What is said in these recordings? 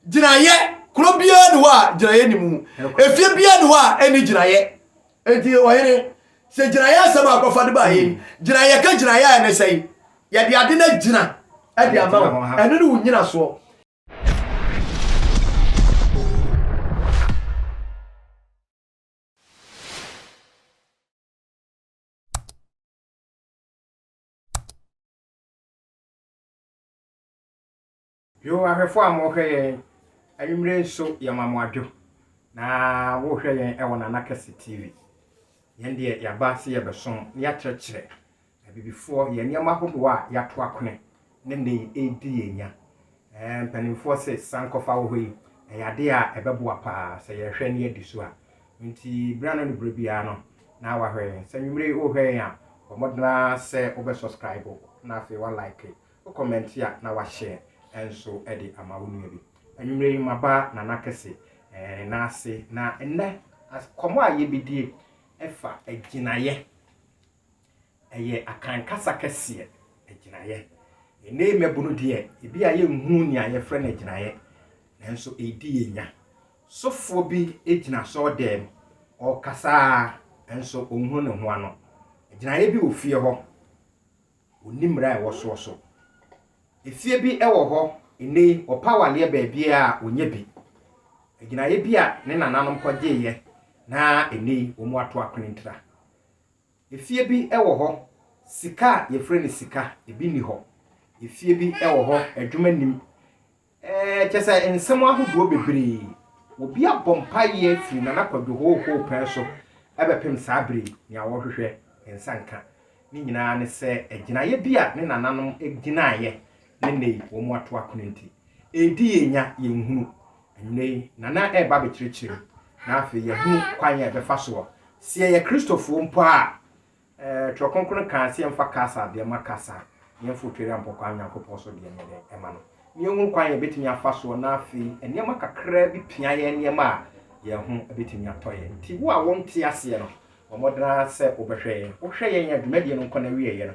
Gyinaeɛ, Kuro biara nni hɔ a gyinaeɛ nni mu. Efie biara nni hɔ a ɛnni gyinaeɛ. Enti ɔhene, sɛ gyinaeɛ asɛm a akɔfa de baa yei, gyinaeɛ, yɛka gyinaeɛ a ɛne sɛn? Yɛde ade no agyina de ama wo. Ɛno ne wo nnyinasoɔ. Yo ahwɛfoɔ a mo hwɛ yɛn anwumerɛ nso yɛ ma mo adwo na wo hwɛ yɛn ɛwɔ nana kɛse TV yɛn deɛ yaba sɛ yɛ bɛ som na yɛ kyerɛkyerɛ abibifoɔ yɛn nneɛma ahodoɔ a yɛ ato akone ne nɛ yi ɛdi yɛn nya ɛɛ mpaninfoɔ se san kɔfa wɔ hɔ yi ɛyɛ adeɛ a ɛbɛ boa paa sɛ yɛ hwɛ na yɛ di so a nti berɛ ano ne berɛ biara no na wa hwɛ yɛn sɛ anwumerɛ yi wo hwɛ yɛn a bɔ mmɔdena sɛ wo bɛ subscribe na afei wa like Wo comment a na wa share nso de ama wo nua bi. Anwumerɛ yi maba Nana Kɛse ne nan ase na nnɛ nkɔmmɔ a yɛbɛdie ɛfa agyinaeɛ. Ɛyɛ Akan kasa kɛseɛ, agyinaeɛ. Nnɛ yi mmabunu deɛ ebi a yɛnhunu nea yɛfrɛ no agyinaeɛ nanso ɛredi yɛn nya. Sofoɔ bi gyina sɔɔ dɛm, ɔrekasa ara nso ɔnhunu ne ho ano. Agyinaeɛ bi wɔ fie hɔ. Onni mmara a ɛwɔ soɔ so. Efie bi wɔ hɔ nnɛ yi, ɔpa awaleɛ baabiara a, ɔnya bi. Agyinaeɛ bi a ne nananom kɔgyeeɛ na nnɛ yi wɔato akwenentra. Efie bi wɔ hɔ, sika a yɛfrɛ no sika, ebi nni hɔ. Efie bi wɔ hɔ, adwuma nnim. Ɛɛ, kyerɛ sɛ nsɛm ahodoɔ bebree. Obi abɔ mpaeɛ firi Nana Kwadwo hoohoo pɛɛ so bɛpem saa berɛ yi, nea ɔrehwehwɛ nsa nka ne nyinaa ne sɛ agyinaeɛ bi a ne nananom gyinaeɛ ne nnɛ yi wɔn ato akone nti, ɛredi yɛn nya, yɛnhunu. Anwunnɛ yi, Nana reba abɛkyerɛkyerɛ mu, na afei yɛahunu kwan a yɛbɛfa soɔ. Sɛ yɛyɛ Kristofoɔ mpo a, Twerɛ Kronkron kaa sɛ yɛmfa Kaesar deɛ ma Kaesar, na yɛmforo Tweriampɔkɔ a Nyankopɔn so deɛ nyɛ dɛn ma no. Na yɛnhunu kwan a yɛbɛtumi afa soɔ na afei nneɛma kakraa bi pia yɛn nneɛma a yɛn ho bɛtumi atɔ yɛn. Nti wo a wonte aseɛ no, bɔ mmɔden ara sɛ wobɛhwɛ yɛn. Wohwɛ yɛn a, dwumadie no nkɔ n'awieeɛ no,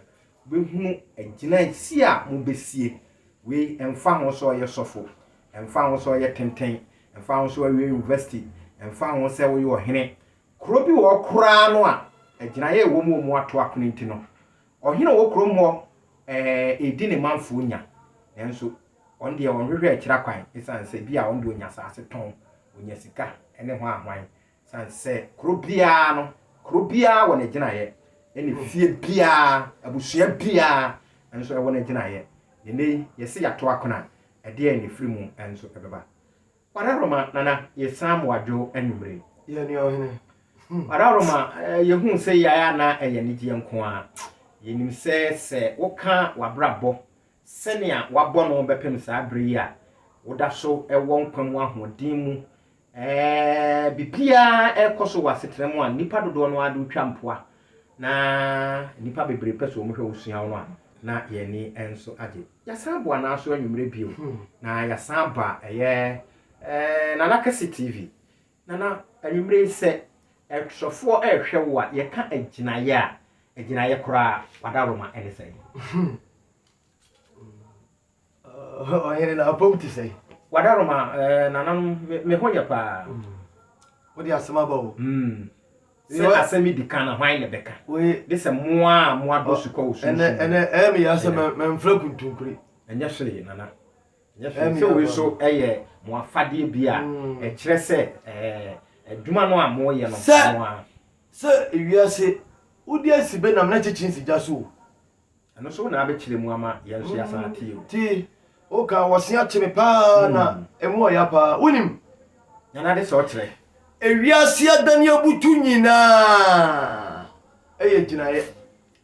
wobɛhunu agyinaeɛsie a mobɛsie. Wei, ɛmfa ho sɛ ɔyɛ sɔfo, ɛmfa ho sɛ ɔyɛ tenten, ɛmfa ho sɛ wawie university, ɛmfa ho sɛ woyɛ ɔhene, Kuro bi wɔ hɔ koraa no a agyinaeɛ a ɛwɔ mu wɔ mu ato akono nti no, ɔhene a ɔwɔ kurom hɔ redi ne manfoɔ nya. Nanso ɔno deɛ ɔnhwehwɛ akyira kwan ɛsiane sɛ bi a ɔno deɛ ɔnya asase tɔn, ɔnya sika ne hwan hwan. Ɛsiane sɛ kuro biara no, kuro biara wɔ n'agyinaeɛ ɛna efie biara, abusua biara nso ɛwɔ n'agyinaeɛ. Ɛnnɛ yi yɛse yɛato akono a, ɛdeɛn na ɛfiri mu nso ɛbɛba? Wararoma nana yɛ san mo adwo anwummere. Yɛ nua ɔhene. Wararoma yɛ hu sɛ yɛ ayɛ anaa ɛyɛ anigyeɛ nko ara. Yɛ nim sɛ sɛ wo ka wabrabɔ sɛnea wabɔ no bɛpem saa bere yi a wo da so wɔ nkwa mu ahoɔden mu ɛɛ biribiara ɛrekɔ so wɔ asetena mu a nnipa dodoɔ no ara de wo twa mpoa Na nnipa bebree pɛ sɛ wɔhwɛ wo sua wo no a, na yɛn ani nso agye. Yɛasan boa no ara so anwummerɛ bio, na yɛasan ba ɛyɛ eh, Nana Kɛse TV. Nana, anwummerɛ yi sɛ ɛtwerɛfoɔ rehwɛ wo a, yɛka agyinaeɛ a, agyinaeɛ koraa, w'adaworoma ne sɛn? Ɔhene na abom te sɛn? Wadaroma eh, nananom me, me ho yɛ paa. Mm. Wode asɛm aba o. Mm. Sɛ asɛm di kan na hwan na bɛka? De sɛ moa a moa dɔ su kɔ wo sunsun. Ɛnɛ ɛnɛ ɛyɛ me yasa mɛ mɛ nfra kuntunkuri. Ɛnyɛ hwee nana. Ɛnyɛ hwee sɛ wei so ɛyɛ mo afadeɛ bi a mm. ɛkyerɛ sɛ ɛɛ adwuma no a mo yɛ no mo a. Sɛ ewiase wodi asi bɛ nam na kyekye nsi gya so o. Ɛno nso na abɛkyerɛ mu ama yɛn nso yɛasan atie o. Ti woka wɔse akyere paa na ɛmu ɔya paa wonim. Nana de sɛ ɔkyerɛ. Ewiase adane abutu nyinaa ɛyɛ gyinaeɛ.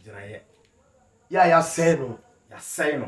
Gyinaeɛ. Yɛ a yɛasɛe no. Yɛasɛe no.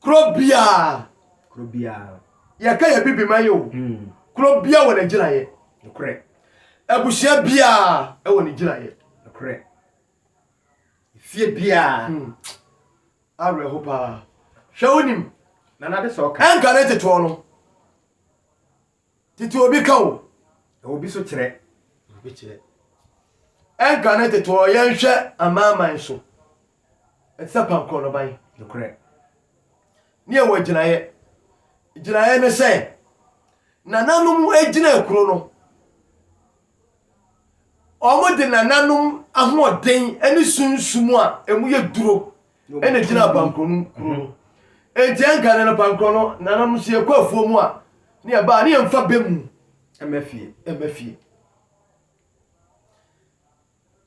Kuro biara, kuro biara, yɛka yɛ bibiman yi o, hmm. kuro biara wɔ n'agyinaeɛ. Nokorɛ. Abusua biara wɔ ne gyinaeɛ. Nokorɛ. Fie biara. Hmm. Awerɛho paa. Hwɛ wonim. Nana de sɛ ɔka. Ɛnka ne tetoɔ no. Tete obi ka o, na obi so kyerɛ. Obi kyerɛ. Ɛnka ne tete ɔ yɛn hwɛ amanaman so. Ɛte sɛ pankɔ no ban. Nokorɛ. Ne ɛwɔ gyinaeɛ. Gyinaeɛ ne sɛ, nananom gyinaa kuro no. wɔde nananom ahoɔden ne sunsum a emu yɛ duro na egyina abankoro no kuro no. Enti ɛnka no abankoro no nananom nso yɛkɔ afuo mu a ne yɛba a ne yɛmfa bɛ mu ɛmɛ fie ɛmɛ fie.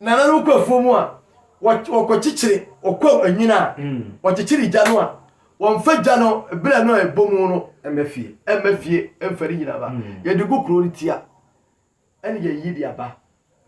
Nananom kɔ afuo mu a, wɔkɔkyekyere ɔkwaw anwina a, wɔkyekyere gya no a, wɔmfa gya no berɛ no a ɛbɔ mu no mma fie, ɛmma fie mfa ne nyina ba. Yɛde gu kuro no ti a, ɛne yɛyi de aba.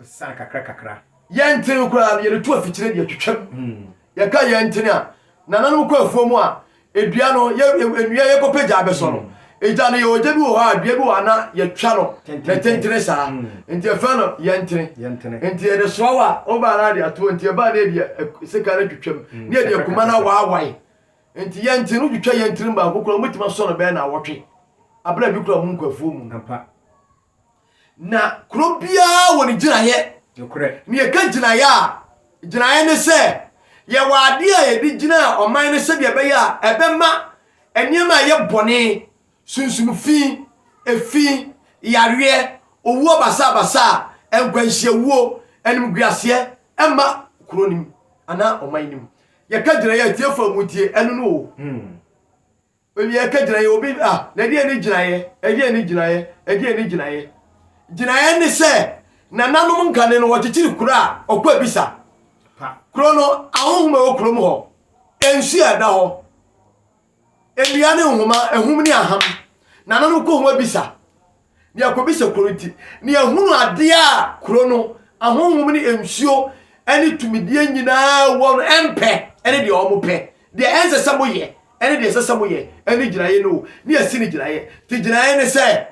San kakrakakra. Yɛntene koraa no, yɛde to afikyire de atwitwam. Yɛka yɛntene a, nananom kɔ afuo mu a, Dua no, yɛ nnua yɛkɔ pɛ gya bɛsɔ no. Gya no yɛ ɔgya bi wɔ hɔ a dua bi wɔ hɔ a na yɛtwa no na tentene saa. Nti yɛfrɛ no yɛntene. Nti yɛde soa wa wo baa no ade atoɔ nti ɛbaa no yɛde sekan no twitwa mu na yɛde akuma no awaawae. Nti yɛntene no wotwitwa yɛntene baako koraa wobɛtumi asɔ no bɛyɛ naawɔtwe. Abena bi koraa mu nkwafuo mu no. Na kuro biara wɔ ne gyinaeɛ. Nokorɛ. Na yɛka gyinaeɛ a, gyinaeɛ ne sɛ yɛwɔ adeɛ a yɛde gyina ɔman no sɛdeɛ ɛbɛyɛ a ɛbɛma nneɛma a ɛyɛ bɔne, sunsum fi, efi, yareɛ, owuo basaabasaa, nkwanhyiawuo, animguaseɛ ɛmma kuro no mu anaa ɔman no mu. Yɛka gyinaeɛ a, atiefoɔ a montie, ɛno ne o. Ɔwie a ka gyinaeɛ, obi a, na ɛdeɛn ne gyinaeɛ? Ɛdeɛn ne gyinaeɛ? Ɛdeɛn ne gyinaeɛ? Gyinaeɛ ne sɛ, nananom nkane no wɔkyekyere kuro a ɔkɔ abisa. Kuro no, ahonhom a ɛwɔ kurom hɔ, nsuo a ɛda hɔ, nnua ne nhoma, ahum ne aham, nananom kɔ ho abisa. na yɛakɔbisa kuro no nti, na yɛhunu adeɛ a kuro no ahonhom ne nsuo ne tumideɛ nyinaa wɔ no ɛmpɛ ne deɛ wɔn pɛ deɛ ɛnsɛ sɛ moyɛ ɛne deɛ ɛsɛ sɛ moyɛ ɛne gyinaeɛ no ne yɛasi ne gyinaeɛ te gyinaeɛ ne sɛ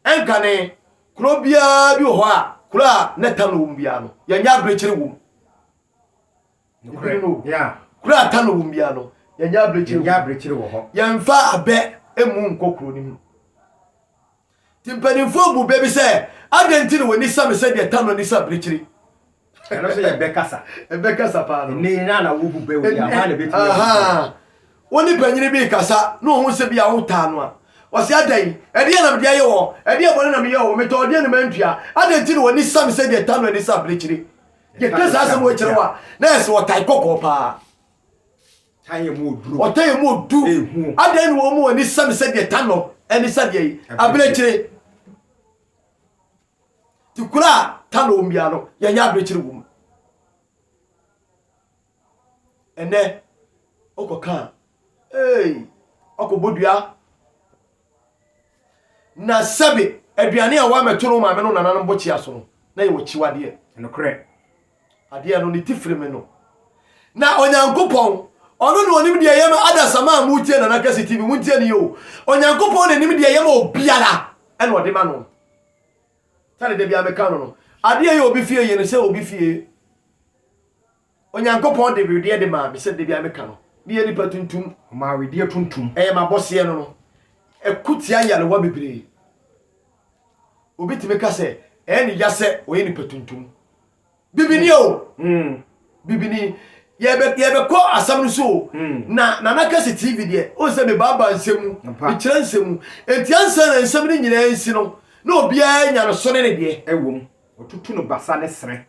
ɛnka ne kuro biara bi wɔ hɔ a kuro a na tam no wɔ mu biara no yɛnyɛ aberekyere wɔ mu Nokorɛ. Yeah. Kuro a aka no wɔm biara no, yɛnyɛ abirekyiri wɔ hɔ. Yɛnyɛ abirekyiri wɔ hɔ. Yɛmfa abɛ mmu nkɔ kuro no mu. Nti mpanimfoɔ bu bɛ bi sɛ, adɛn nti na w'ani sa me sɛ deɛ Tano ani sa abirekyiri? Ɛno nso yɛ bɛ kasa. Ɛbɛ kasa paa no. Ɛnɛ nyinaa na wobu bɛ wɔ bi a, hwan na ɛbɛtumi abu bɛ? Ahaa. Wo ne panyini bi rekasa na ɔhu sɛ bi a wotaa no a, ɔse, adɛn? Ɛdeɛn na mede ayɛ wo? Ɛdeɛn bɔne na meyɛɛ wo? Metɔɔ deɛn na mantua? Adɛn nti na w'ani sa me sɛ deɛ Tano ani sa abirekyiri? Yɛka saa asɛm wei kyerɛ wo a, na yɛ sɛ ɔtan kɔkɔɔ paa. Tan yɛ mu oduro. Ɔtan yɛ mu odu. Ehu. Adɛn na wɔn mu ani sɛ me sɛdeɛ tan no ɛne sɛdeɛ yi abirekyire. Ti kura a tan na wɔn biara no, yɛnyɛ abirekyire wɔ mu. Ɛnnɛ, wokɔka a, ee, wakɔbɔ dua. Na sɛbe aduane a woamɛto no maame no nananom bokyea so no, na yɛwɔ kyiwadeɛ. Nokorɛ, adeɛ no ne tifiri me no. Na Onyankopɔn, ɔno na ɔnim deɛ ɛyɛ ma adasamma a moretie Nana Kɛse TV, montie ne yɛ o. Onyankopɔn na nim deɛ ɛyɛ ma obiara, ɛna ɔde ma no. Sɛde da biara meka no no, adeɛ yɛ obi fie yɛ no sɛ obi fie. Onyankopɔn de wedeɛ de maa me sɛ da biara meka no. Me yɛ nipa tuntum. Ɔmaa wedeɛ tuntum. Ɛyɛ m'abɔseɛ no no. Ɛko tia nyarewa bebree. Obi tumi ka sɛ ɛyɛ ne ya sɛ ɔyɛ nipa tuntum. Bibini o! Mm. Bibini. Yɛbɛ yɛbɛkɔ asɛm no so o. Mm. Na Nana Kɛse TV deɛ, o sɛ mebaaba nsɛm mu, mekyerɛ nsɛm mu. Enti ansa na nsɛm no nyinaa nsi no, na obiara nya ne so ne ne deɛ. Ɛwom. Ɔtutu no basa ne srɛ.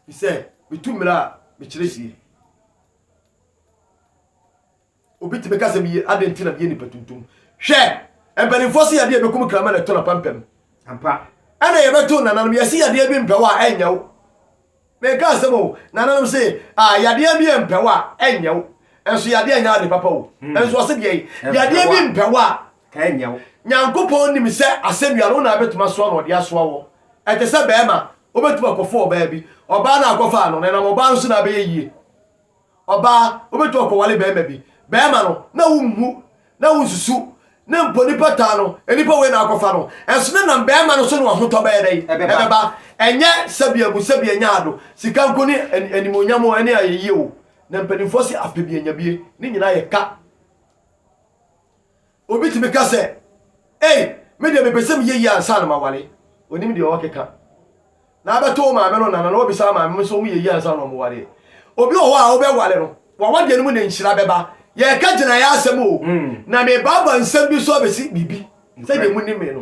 Sɛ metu mmara a, mekyerɛ sie. Obi tumi ka sɛ meyɛ adɛn nti na meyɛ nipa tuntum. Hwɛ! Mpanimfoɔ se yadeɛ ɛbɛkum krama na ɛtɔ na pampam. Ampa. Ɛna yɛbɛto nananom yɛse yadeɛ bi mpɛw a ɛnyɛ wo. Meka asɛm o, nananom se a yadeɛ bi mpɛw a ɛnyɛ wo. Ɛnso yadeɛ nyɛ ade papa o. Ɛnso ɔse deɛ yadeɛ bi mpɛw a Ɛnyɛ wo. Nyankopɔn nim sɛ asɛnnua no, wo na wobɛtumi asoa no, Ɔde asoa wo. Ɛte sɛ barima a, wobɛtumi akɔfo ɔbaa bi. Ɔbaa no a wokɔfaa no no, ɛnam ɔbaa no so na abɛyɛ yie. Ɔbaa, wobɛtumi akɔwale barima bi. Barima no, na wonhu, na wonsusu, na mpo nnipa taa no, nnipa wei na akɔfa no. Ɛnso na ɛnam barima no so na w'ahotɔ bɛyɛ dɛn? Ɛbɛba. Ɛnyɛ sɛbi abu, sɛbi anya ado, sika nko ne animuonyam o, ɛne ayɛyie o. Na mpanimfoɔ se apɛbie-nyabie, ne nyinaa yɛ ka. Obi tumi ka sɛ, Ei, me deɛ mepɛ sɛ meyɛ yie ansa na maware. Ɔnim deɛ ɔrekeka. Na abɛto wo maame no nana na wabisa wo maame nso wɔyɛ yie ansa na wɔwareɛ. Obi wɔ hɔ a wobɛware no, w'awadeɛ no mu na nhyira bɛba. Yɛreka gyinaeɛ asɛm o, na merebaaba nsɛm bi so abɛsi biribi sɛdeɛ monim me no.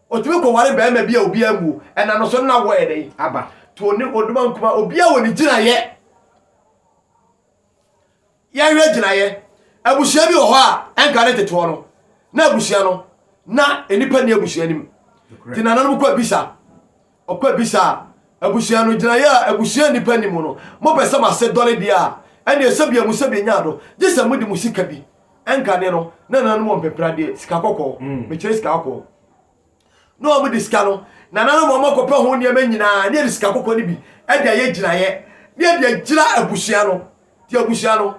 Otumi kɔware barima bi a obiara mmuo ɛna no so na wɔyɛ dɛn? Aba. To ɔne ɔdoma nkuma obiara wɔ ne gyinaeɛ. Yɛnhwɛ gyinaeɛ. Abusua bi wɔ hɔ a ɛnka ne tetoɔ no na abusua no na nnipa nni abusua no mu. Nti nananom kɔ abisa. Ɔkɔ abisa a abusua no, gyinaeɛ a abusua nnipa nim no, mopɛ sɛ mo ase dɔre deɛ a, ɛnneɛ sɛbia mo sɛbia nya adɔ, gye sɛ mode mo sika bi, ɛnkane no, na nananom wɔ mpepere adeɛ, sika kɔkɔɔ, mekyerɛ sika kɔkɔɔ, na wɔn de sika no, nananom wɔn akɔpɛ ho nneɛma nyinaa, na yɛde sika kɔkɔɔ no bi de ayɛ gyinaeɛ, na yɛde agyina abusua no, deɛ abusua no,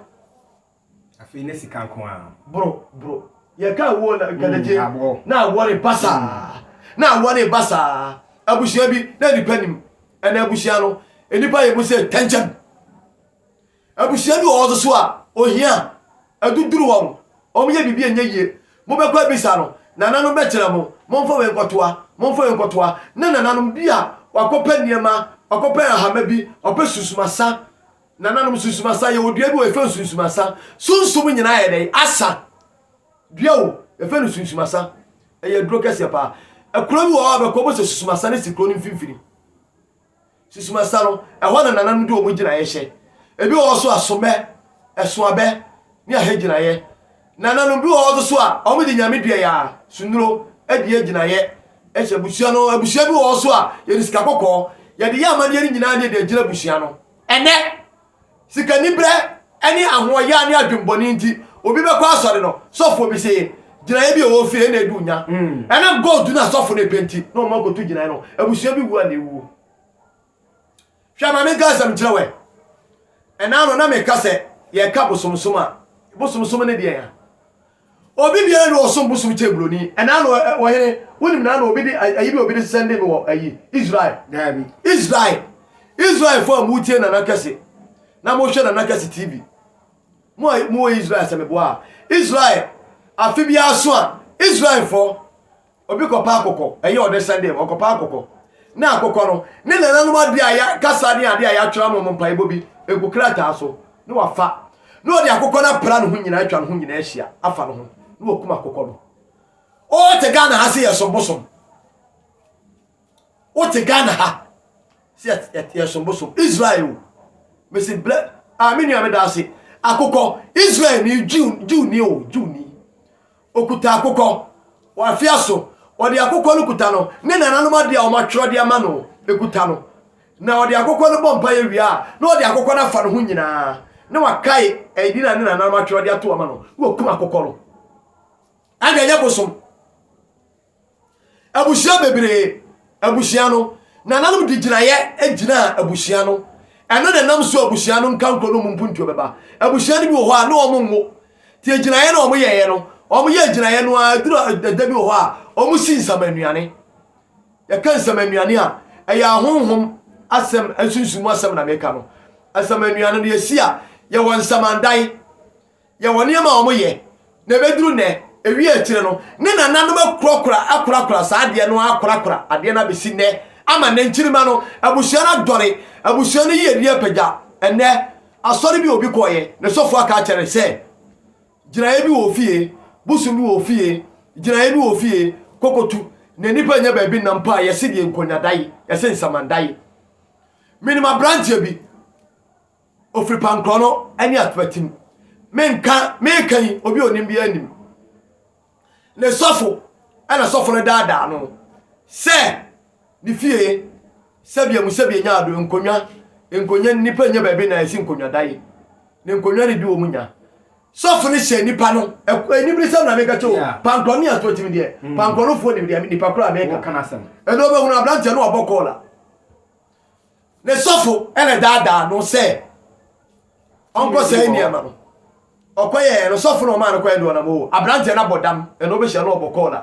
Afei na sika nko ara. Bro, bro. Yɛka awuo na nkadagye na awɔ reba saa. Na awɔ reba saa. Abusua bi na nipa nnim. Ɛnna abusua no, nnipa yɛ mu sɛ tɛnkyɛm. Abusua bi wɔ hɔ nso so a, ohia aduduru wɔn. Wɔyɛ biribi a ɛnyɛ yie. Mobɛkɔ abisa no, nananom bɛkyerɛ mo, momfa wei nkɔtoa, momfa wei nkɔtoa. Na nananom bi a wɔakɔpɛ nneɛma, wɔakɔpɛ ahama bi, wɔpɛ susumasa, Nananom Sunsum Asa, Yɛwɔ dua bi wɔ yɛfrɛ no Sunsum Asa. Sunsum nyinaa yɛ dɛn? Asa. Dua o, yɛfrɛ no Sunsum Asa. Ɛyɛ aduro kɛseɛ paa. Ɛkuro bi wɔ hɔ a bɛkɔ bɛsɛ Sunsum Asa no si kuro no mfimfini. Sunsum Asa no, ɛhɔ na nananom de wɔn gyinaeɛ hyɛ. Ebi wɔ hɔ so a somɛ, ɛsoabɛ ne ahɛ gyinaeɛ. Nananom bi wɔ hɔ so a wɔn de nyame dua yɛ a sunuro adua gyinaeɛ hyɛ abusua no. Abusua bi wɔ hɔ so a yɛde sika kɔkɔɔ yɛde yɛ amadeɛ no nyinaa ne yɛde agyina abusua no. Ɛnnɛ, sikaniberɛ ne ahoɔyaa ne adwemmɔne nti, obi bɛkɔ asɔre no, sɔfoɔ bi se gyinaeɛ bi a ɛwɔ fie na ɛdi wo nya. Ɛnam gold no a sɔfo no repɛ nti na wɔn akɔto gyinaeɛ no, abusua bi wu a na ɛwuo. Hwɛ ma menka asɛm nkyerɛ wɛ. Ɛnaa no na meka sɛ yɛka bosomsom a, bosomsom ne deɛ ya. Obi biara nni hɔ ɔsom bosom kyɛn buroni. Ɛnaa no ɛ, ɔhene, wonim nana obi de a, ayi bi a obi de sɛnde me wɔ ayi, Israel? Daabi. Israel, Israelfoɔ a motie Nana Kɛse na mohwɛ Nana Kɛse TV, mo a mowɔ Israel sɛ meboa a, Israel, afe biara so a, Israelfoɔ, Obi kɔpɛ akokɔ, ɛyɛ ɔde hyɛ dɛm, ɔkɔpɛ akokɔ. Na akokɔ no, ne nananom adeɛ a yɛ kasa ne adeɛ a yɛatwerɛ ama wɔn mpaebɔ bi gu krataa so, na wafa. Na ɔde akokɔ no apra ne ho nyinaa, atwa ne ho nyinaa ahyia, afa ne ho, na wakum akokɔ no. Wote Ghana ha sɛ yɛsom bosom. Wote Ghana ha sɛ yɛsom bosom. Israel, mesi blɛ, a me nua meda ase, akokɔ, Israel ni, Jew, Jew ni o, Jew ni. Ɔkuta akokɔ wɔ afea so. Ɔde akokɔ no kuta no, ne nananom adeɛ a wɔatwerɛ de ama no kuta no. Na ɔde akokɔ no bɔ mpaeɛ wie a, na ɔde akokɔ no afa ne ho nyinaa, na wakae ɛdin a ne nananom atwerɛ de ato ama no, na wakum akokɔ no. Ɛnde ɛnyɛ bosom. Abusua bebree, abusua no, nananom de gyinaeɛ gyinaa abusua no. Ɛno na ɛnam so abusua no nkankuro no mu mpuntuo bɛba. Abusua no bi wɔ hɔ a na wɔn nwo. Ti agyinaeɛ na wɔn yɛeɛ no, wɔn yɛ agyinaeɛ no ara duru ɛda bi wɔ hɔ a wɔn si nsamannuane. Yɛka nsamannuane a, ɛyɛ ahonhom asɛm, nsunsum mu asɛm na meka no. Nsamannuane no yɛsi a, yɛwɔ nsamandan. Yɛwɔ nneɛma a wɔyɛ na ɛbɛduru nnɛ, ɛwie akyire no, ne nananom akurakura akurakura saa adeɛ no akurakura adeɛ no abɛsi nnɛ, ama nnɛ nkyirimma no, abusua no adɔre, abusua no yiedie apagya. Ɛnnɛ, asɔre bi obi kɔeɛ, ne sɔfoɔ aka akyerɛ no sɛ, gyinaeɛ bi wɔ wo fie, bosom bi wɔ wo fie, gyinaeɛ bi wɔ wo fie, kɔkɔtu, na nnipa nnya baabi nna mpo a, yɛse deɛ nkonnwa da yi, yɛse nsaman da yi. Menim aberanteɛ bi. Ofiri pankorɔ no ne atuatim. Me nka, me reka yi, obi a onim biara nim. Ne sɔfo na sɔfo no daadaa no sɛ ne fie sɛbea mu sɛbea nya ado, nkonnwa, nkonnwa, nnipa nya baabi na ɛsi nkonnwadan, na nkonnwa no bi wɔ mu nya. Sɔfo no hyɛ nipa no, anibirisɛm na meka kyɛ o, pankorɔ ne atuatim deɛ, pankorɔ no foɔ nim deɛ, nipa koro a meka. Ɛdɔ bɛhunu aberanteɛ no wabɔ kɔɔla. Ne sɔfo na daadaa no sɛ ɔnkɔ saa nneɛma no. Ɔkɔ yɛ no sɔfo na ɔmaa no kɔɛ deɛ ɔnam o. Aberanteɛ no abɔ dam, ɛna ɔbɛhyia no ɔbɔ kɔɔla.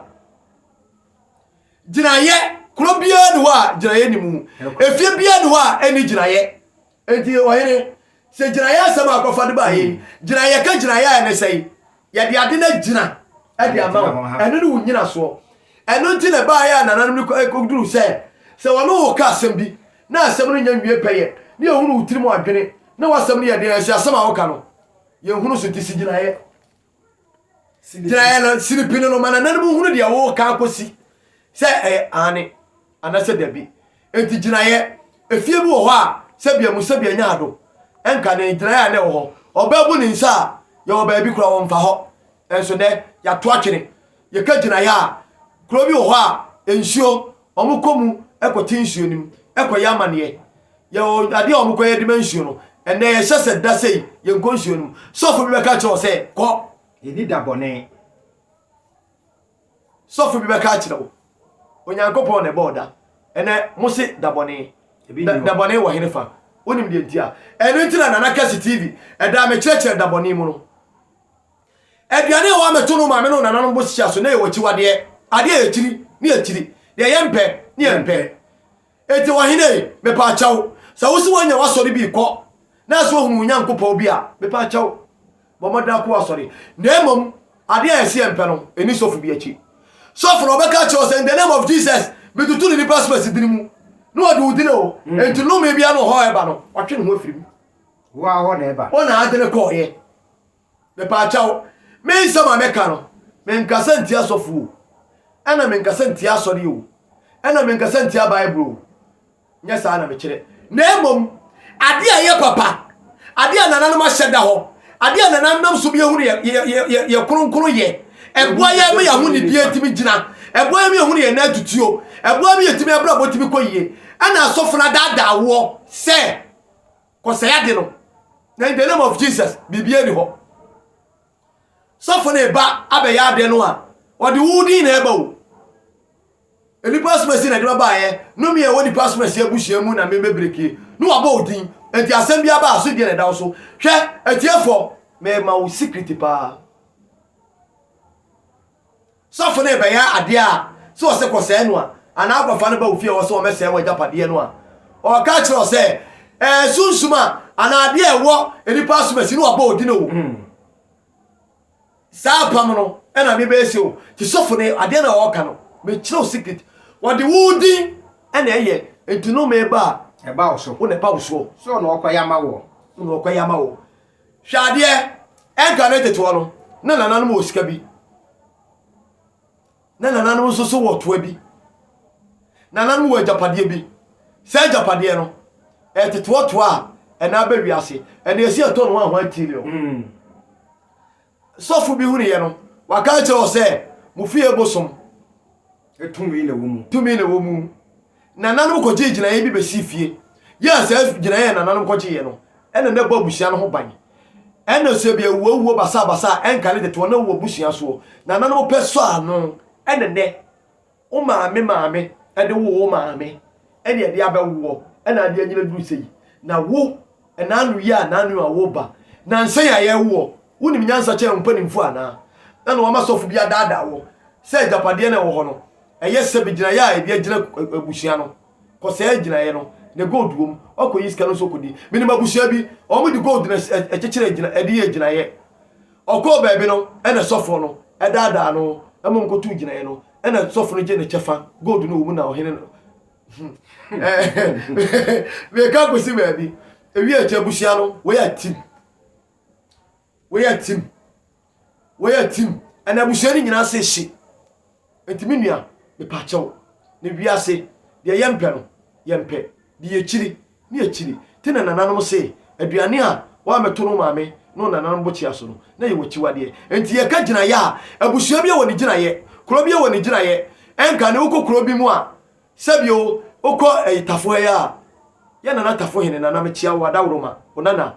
Gyinaeɛ, kuro biara ni hɔ a gyinaeɛ ni mu. Efie biara ni hɔ a ɛni gyinaeɛ. Enti ɔhene. Sɛ gyinaeɛ asɛm a akɔfa de baeɛ ni. Gyinaeɛ, yɛka gyinaeɛ a ɛne sɛn? Yɛde ade no agyina de ama wo. Ɛno ne wo nyinasoɔ. Ɛno nti na ɛbaeɛ a nananom no kɔduruu sɛ, sɛ wɔne wo reka asɛm bi na asɛm no nya nwie pɛyɛ na yɛhunu wo tirim adwene na w'asɛm no yɛ den a, ɛsɛ asɛm a woka no, yɛhunu so nti si gyinaeɛ. gyinaeɛ no sini pene no ma nananom hunu deɛ woreka akɔsi sɛ ɛyɛ aane anasɛ dabi nti gyinaeɛ efie bi wɔ hɔ a sɛbia mu sɛbia nya ado ɛnka ne gyinaeɛ a na ɛwɔ hɔ ɔbaa bu ne nsa a yɛwɔ baabi kora wɔmfa hɔ ɛnso nɛ yɛato atwene Yɛka gyinaeɛ a, kuro bi wɔ hɔ a nsuo, wɔkɔ mu kɔte nsuo no mu kɔyɛ amaneɛ. Yɛwɔ adeɛ a wɔkɔyɛ de ma nsuo no. Ɛnnɛ yɛhyɛ sɛ da sei yɛnkɔ nsuo no mu. Sɔfo bi bɛka kyerɛ wo sɛ kɔ. Yɛnni da bɔne. Sɔfo bi bɛka akyerɛ wo. Onyankopɔn na ɛbɔɔ da. Ɛnɛ mo se da bɔne. Da, da bɔne wɔ hene fa? Wonim deɛ nti a? Ɛno nti na Nana Kasi TV ɛdaa me kyerɛkyerɛ da bɔne mu no. Aduane a wɔammɛto no maame ne nananom bo hyia so na ɛyɛ w'akyiwadeɛ, adeɛ a yɛkyiri ne yɛkyiri, deɛ yɛmpɛ ne yɛmpɛ. Enti ɔhene, mepa kyɛw, sɛ wo se woanya w'asɔre bi kɔ na sɛ woahunu wo Nyankopɔn bi a, mepa kyɛw, bɔ mmɔden akɔ w'asɔre. Na mmom adeɛ a yɛse yɛmpɛ no, nni sɔfo bi akyi. Sɔfo no, ɔbɛka akyerɛ wo sɛ, In the name of Jesus, metutu no nnipa spɛs dini mu, na wɔde wo dini o, enti nnome biara ne ɔhaw a ɛba no, watwe ne ho afiri mu. Wo ara hɔ na ɛba. Wo na ade no kɔeɛ. Mepaakyɛw, me nsɛm a mɛka no, menkasa ntia sɔfo o, ɛna menkasa ntia asɔre o, ɛna menkasa ntia Bible o, nyɛ saa na mekyerɛ, na mmom ade a ɛyɛ papa, ade a nananom ahyɛ da hɔ, ade a nananom nam so bia hunu yɛ yɛ kronkron yɛ, ɛboa yɛ ma yɛaho ne bia tumi gyina, ɛboa yɛ ma yɛhunu yɛ nan tutuo, ɛboa yɛ ma yɛtumi abrabɔ tumi kɔ yie, ɛna asɔfo no adaadaa woɔ sɛ. kɔsɛe ade no na in the name of jesus biribi ani hɔ sɔfo na ɛba abɛyɛ adeɛ no a ɔde wo din na ɛba o nnipa asomasi na ɛde bɛbaeɛ no mi a ɛwɔ nnipa asomasi abusua mu na mebɛbreki ne wabɔ wo din enti asɛm bi aba a so deɛ na ɛda wo so hwɛ atiefoɔ mɛma wo secret paa Sɔfo no rebɛyɛ ade a, sɛ ɔse kɔsɛe no a, anaa kɔfa no ba wo fie a ɔwɔ sɛ wɔmmɛsɛe w'agyapadeɛ no a, ɔreka kyerɛ wo sɛ, ɛyɛ sunsum a, anaa adeɛ a ɛwɔ nnipa asomasi na wɔabɔ wo din o. Saa apam no na mebɛyɛ sie o. Nti sɔfo no adeɛ no a ɔreka no, mekyerɛ wo secret. Wɔde wo din na ɛyɛ, nti nnome ba a, wo na ɛba wo soɔ. Wo na ɔkɔyɛ ama wo. Hwɛ adeɛ, ɛnka ne teteɔ no, na nananom wɔ sika bi. Na nananom nso so wɔ toa bi. Nananom wɔ agyapadeɛ bi. Saa agyapadeɛ no, ɛyɛ teteɔtoa a ɛna aba wiase. Ɛna ɛsi ɛtɔ no ahoa tiriɔ. Sɔfo bi hunuiɛ no, waka akyerɛ wɔ sɛ, Mo fie bosom. Tumi na ɛwɔ mu. Tumi na ɛwɔ mu. Nananom kɔgyee gyinaeɛ bi bɛsii fie. Yɛ a saa gyinaeɛ a nananom kɔgyeeɛ no, ɛna na ɛbɔ abusua no ho ban. Ɛna sɛ obi awu awuo basabasa a, ɛnkari tete wɔn a wɔwɔ abusua soɔ. Nananom pɛ sɔɔ ano. Ɛna nnɛ. Wo maame maame de woo wo maame ɛne ɛde abɛwo wɔ ɛna ade anyina duru sɛyi na wo ɛna ano yi a nanu a wo ba nansa yi a yɛwo wɔ wo nim nyansa kyɛn wo mpanimfoɔ anaa na na wama sɔfo bi adaadaa wo sɛ agyapadeɛ no a ɛwɔ hɔ no ɛyɛ sɛbi gyinaeɛ a ɛde agyina abusua no kɔsɛɛ agyinaeɛ no na gold wɔ mu wakɔyi sika no nso kɔdi menim abusua bi wɔn de gold na ɛkyekyere agyina ɛde yɛ agyinaeɛ Ɔkɔɔ baabi no, ɛnna sɔfoɔ no daadaa no ma ɔkɔtuu gyinaeɛ no, ɛnna sɔfo no gyee ne kyɛfa, gold no wɔ mu na ɔhene no Meka akɔsi baabi. Ewie akyi abusua no, wɔyɛ atim. Wɔyɛ atim. Wɔyɛ atim. Ɛnna abusua no nyinaa sɛ hye. Enti me nua, mepaakyɛw, na wiase, deɛ yɛmpɛ no, yɛmpɛ, de akyiri, ne akyiri, te na nananom se, aduane a wɔammɛto no wo maame ne wo nananom bokyea so no, na yɛwɔ akyiwadeɛ. Enti yɛka gyinaeɛ a, abusua biara wɔ ne gyinaeɛ, kuro biara wɔ ne gyinaeɛ, ɛnka ne wokɔ kuro bi mu a, sɛbi o, wokɔ ɛyi Tafohɛɛ a, yɛ nana Tafohene, nana mekyea wo, Adaworoma, wo nana,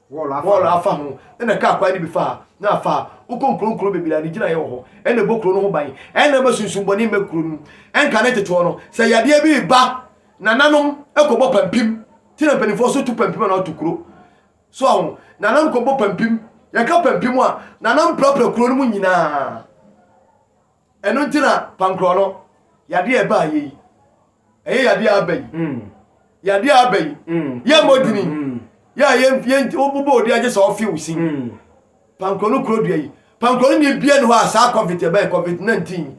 Hɔɔl afa ho, ɛna kaa kwan no bi fa, na afa a wokɔ nkuro nkuro bebree a ne gyinaeɛ wɔ hɔ, ɛna ɛbɔ kuro no ho ban, ɛna ɛma sunsumbɔne mmɛ kuro no mu. Ɛnka ne nteteɔ no, sɛ yadeɛ bi reba nananom kɔbɔ pampim, nti na mpanimfoɔ so tu pampim anaa wɔto kuro. So aho, nananom kɔbɔ pampim, yɛka pampim a, nananom prapra kuro no mu nyinaa. Ɛno nti na pankorɔ no yadeɛ a ɛbaa yɛ yi, ɛyɛ yadeɛ a aba yi, yadeɛ a aba yi, yɛ mmɔ dini, yɛ a yɛn yɛn wobobɔ odi agye sɛ ɔfe wo sin. Pankorɔ no kuro dua yi, pankorɔ no ne ebia ne hɔ a saa covid ɛbɛn covid 19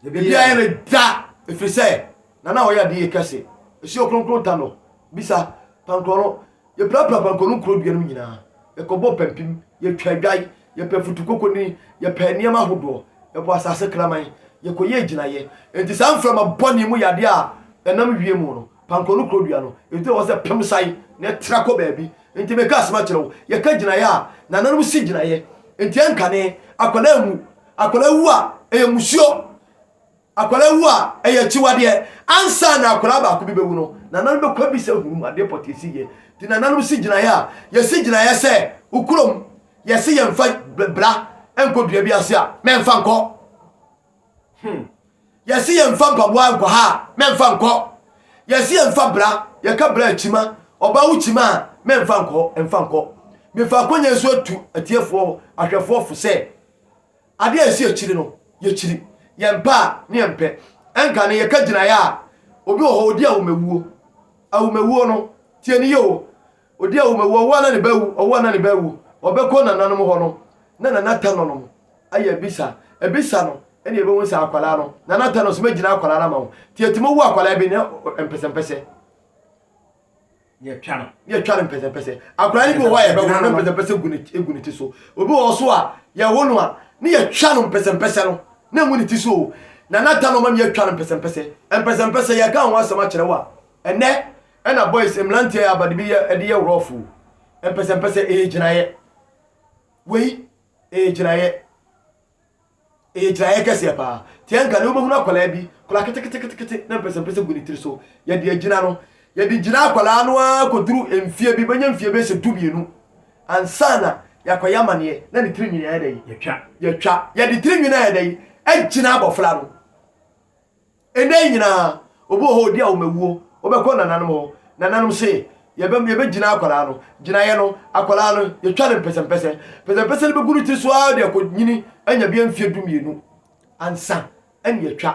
ebia yɛ ne da efiri sɛ na na ɔyɛ adeɛ kɛse esi okronkron ta no bisa pankorɔ no Yɛprapraa pɔnkɔ no kuro dua no mu nyinaa, yɛkɔbɔɔ pampim, yɛtwaa adwae, yɛpɛɛ futukoko nini, yɛpɛɛ nneɛma ahodoɔ, yɛbɔɔ asase kraman, yɛkɔyɛɛ gyinaeɛ. Enti saa mframa bɔne yi mu yɛ adeɛ a ɛnam wiem no, pankɔ no kuro dua no, ɛgyina hɔ sɛ pem san na ɛtra kɔ baabi. Enti mereka asɛm akyerɛ wo, yɛka gyinaeɛ a, na nananom si gyinaeɛ, enti ɛnkane, akwadaa wu, akwadaa wu a, ɛyɛ mmusuo. Akwadaa wu a, ɛyɛ akyiwadeɛ. Ansa na akwadaa baako bi bɛwu no, nananom bɛkɔ abisa hunu mu adeɛ pɔtee si yɛ. Nti nananom si gyinaeɛ a, yɛsi gyinaeɛ sɛ wo kurom yɛse yɛmfa bra nkɔ dua bi ase a, mɛmfa nkɔ. Hmm. Yɛse yɛmfa mpaboa nkɔ ha a, mɛmfa nkɔ. Yɛse yɛmfa bra, yɛka bra a kyima, ɔbaa wo kyima a, mɛmfa nkɔ, mfa nkɔ. Mefa akɔnya nso atu atiefoɔ ahwɛfoɔ fo sɛ, Ade a esi akyiri no, yɛkyiri. Yɛmpɛ a, ne yɛmpɛ. Ɛnka no, yɛka gyinaeɛ a, obi wɔ hɔ, ɔdi awomawuo. Awomawuo no, tie no yie o, ɔdi awomawuo, ɔwo a na ne ba awu, ɔwo a na ne ba awu, ɔbɛkɔ nananom hɔ no, na Nana Tano nom ayɛ abisa, abisa no, ɛnna yɛbɛhu sɛ akwadaa no, Nana Tano se mɛgyina akwadaa no ama wo. Nti, ɛtumi wu akwadaa bi, ne mpɛsɛmpɛsɛ. Yɛtwa no. Yɛtwa no mpɛsɛmpɛsɛ. Akwadaa no bi wɔ hɔ a yɛbɛwo no mpɛsɛmpɛsɛ gu ne gu ne ti so. Obi wɔ hɔ so a yɛwo no a ne yɛtwa no mpɛsɛmpɛsɛ no na ngu ne ti so o. Na nata no ma mi yɛtwa no mpɛsɛmpɛsɛ. Mpɛsɛmpɛsɛ yɛka ho asɛm akyerɛ wo a ɛnɛ ɛna boys mmeranteɛ yɛ abade bi yɛ ɛde yɛ rough o. Mpɛsɛmpɛsɛ ɛyɛ gyinaeɛ. Wei ɛyɛ gyinaeɛ. Ɛyɛ gyinaeɛ kɛseɛ pa ara. Te anka ne wobɛhunu akwadaa bi, akwadaa keteketekete na mpɛsɛmpɛsɛ gu ne tiri so. Yɛde agyina no. Yɛde gyina akwadaa no ara kɔduru mfeɛ bi, bɛnya mfeɛ bɛyɛ sɛ du-mmienu ansa na yɛakɔyɛ amaneɛ na ne tiri nwene ayɛ dɛn? Yɛtwa. Yɛtwa. Yɛde tiri nwene ayɛ dɛn? Agyina abɔfra no. Nna yi nyina, obi wɔ hɔ a odi ahomawuo, wobɛkɔ nananom hɔ, nananom se, yɛbɛ, yɛbɛgyina akwadaa no, gyinaeɛ no, akwadaa no, yɛtwa no mpɛsɛmpɛsɛ, mpɛsɛmpɛsɛ no bɛgu ne tiri so ara de akɔnyini anya bɛyɛ mfeɛ dumienu ansa ne yɛatwa.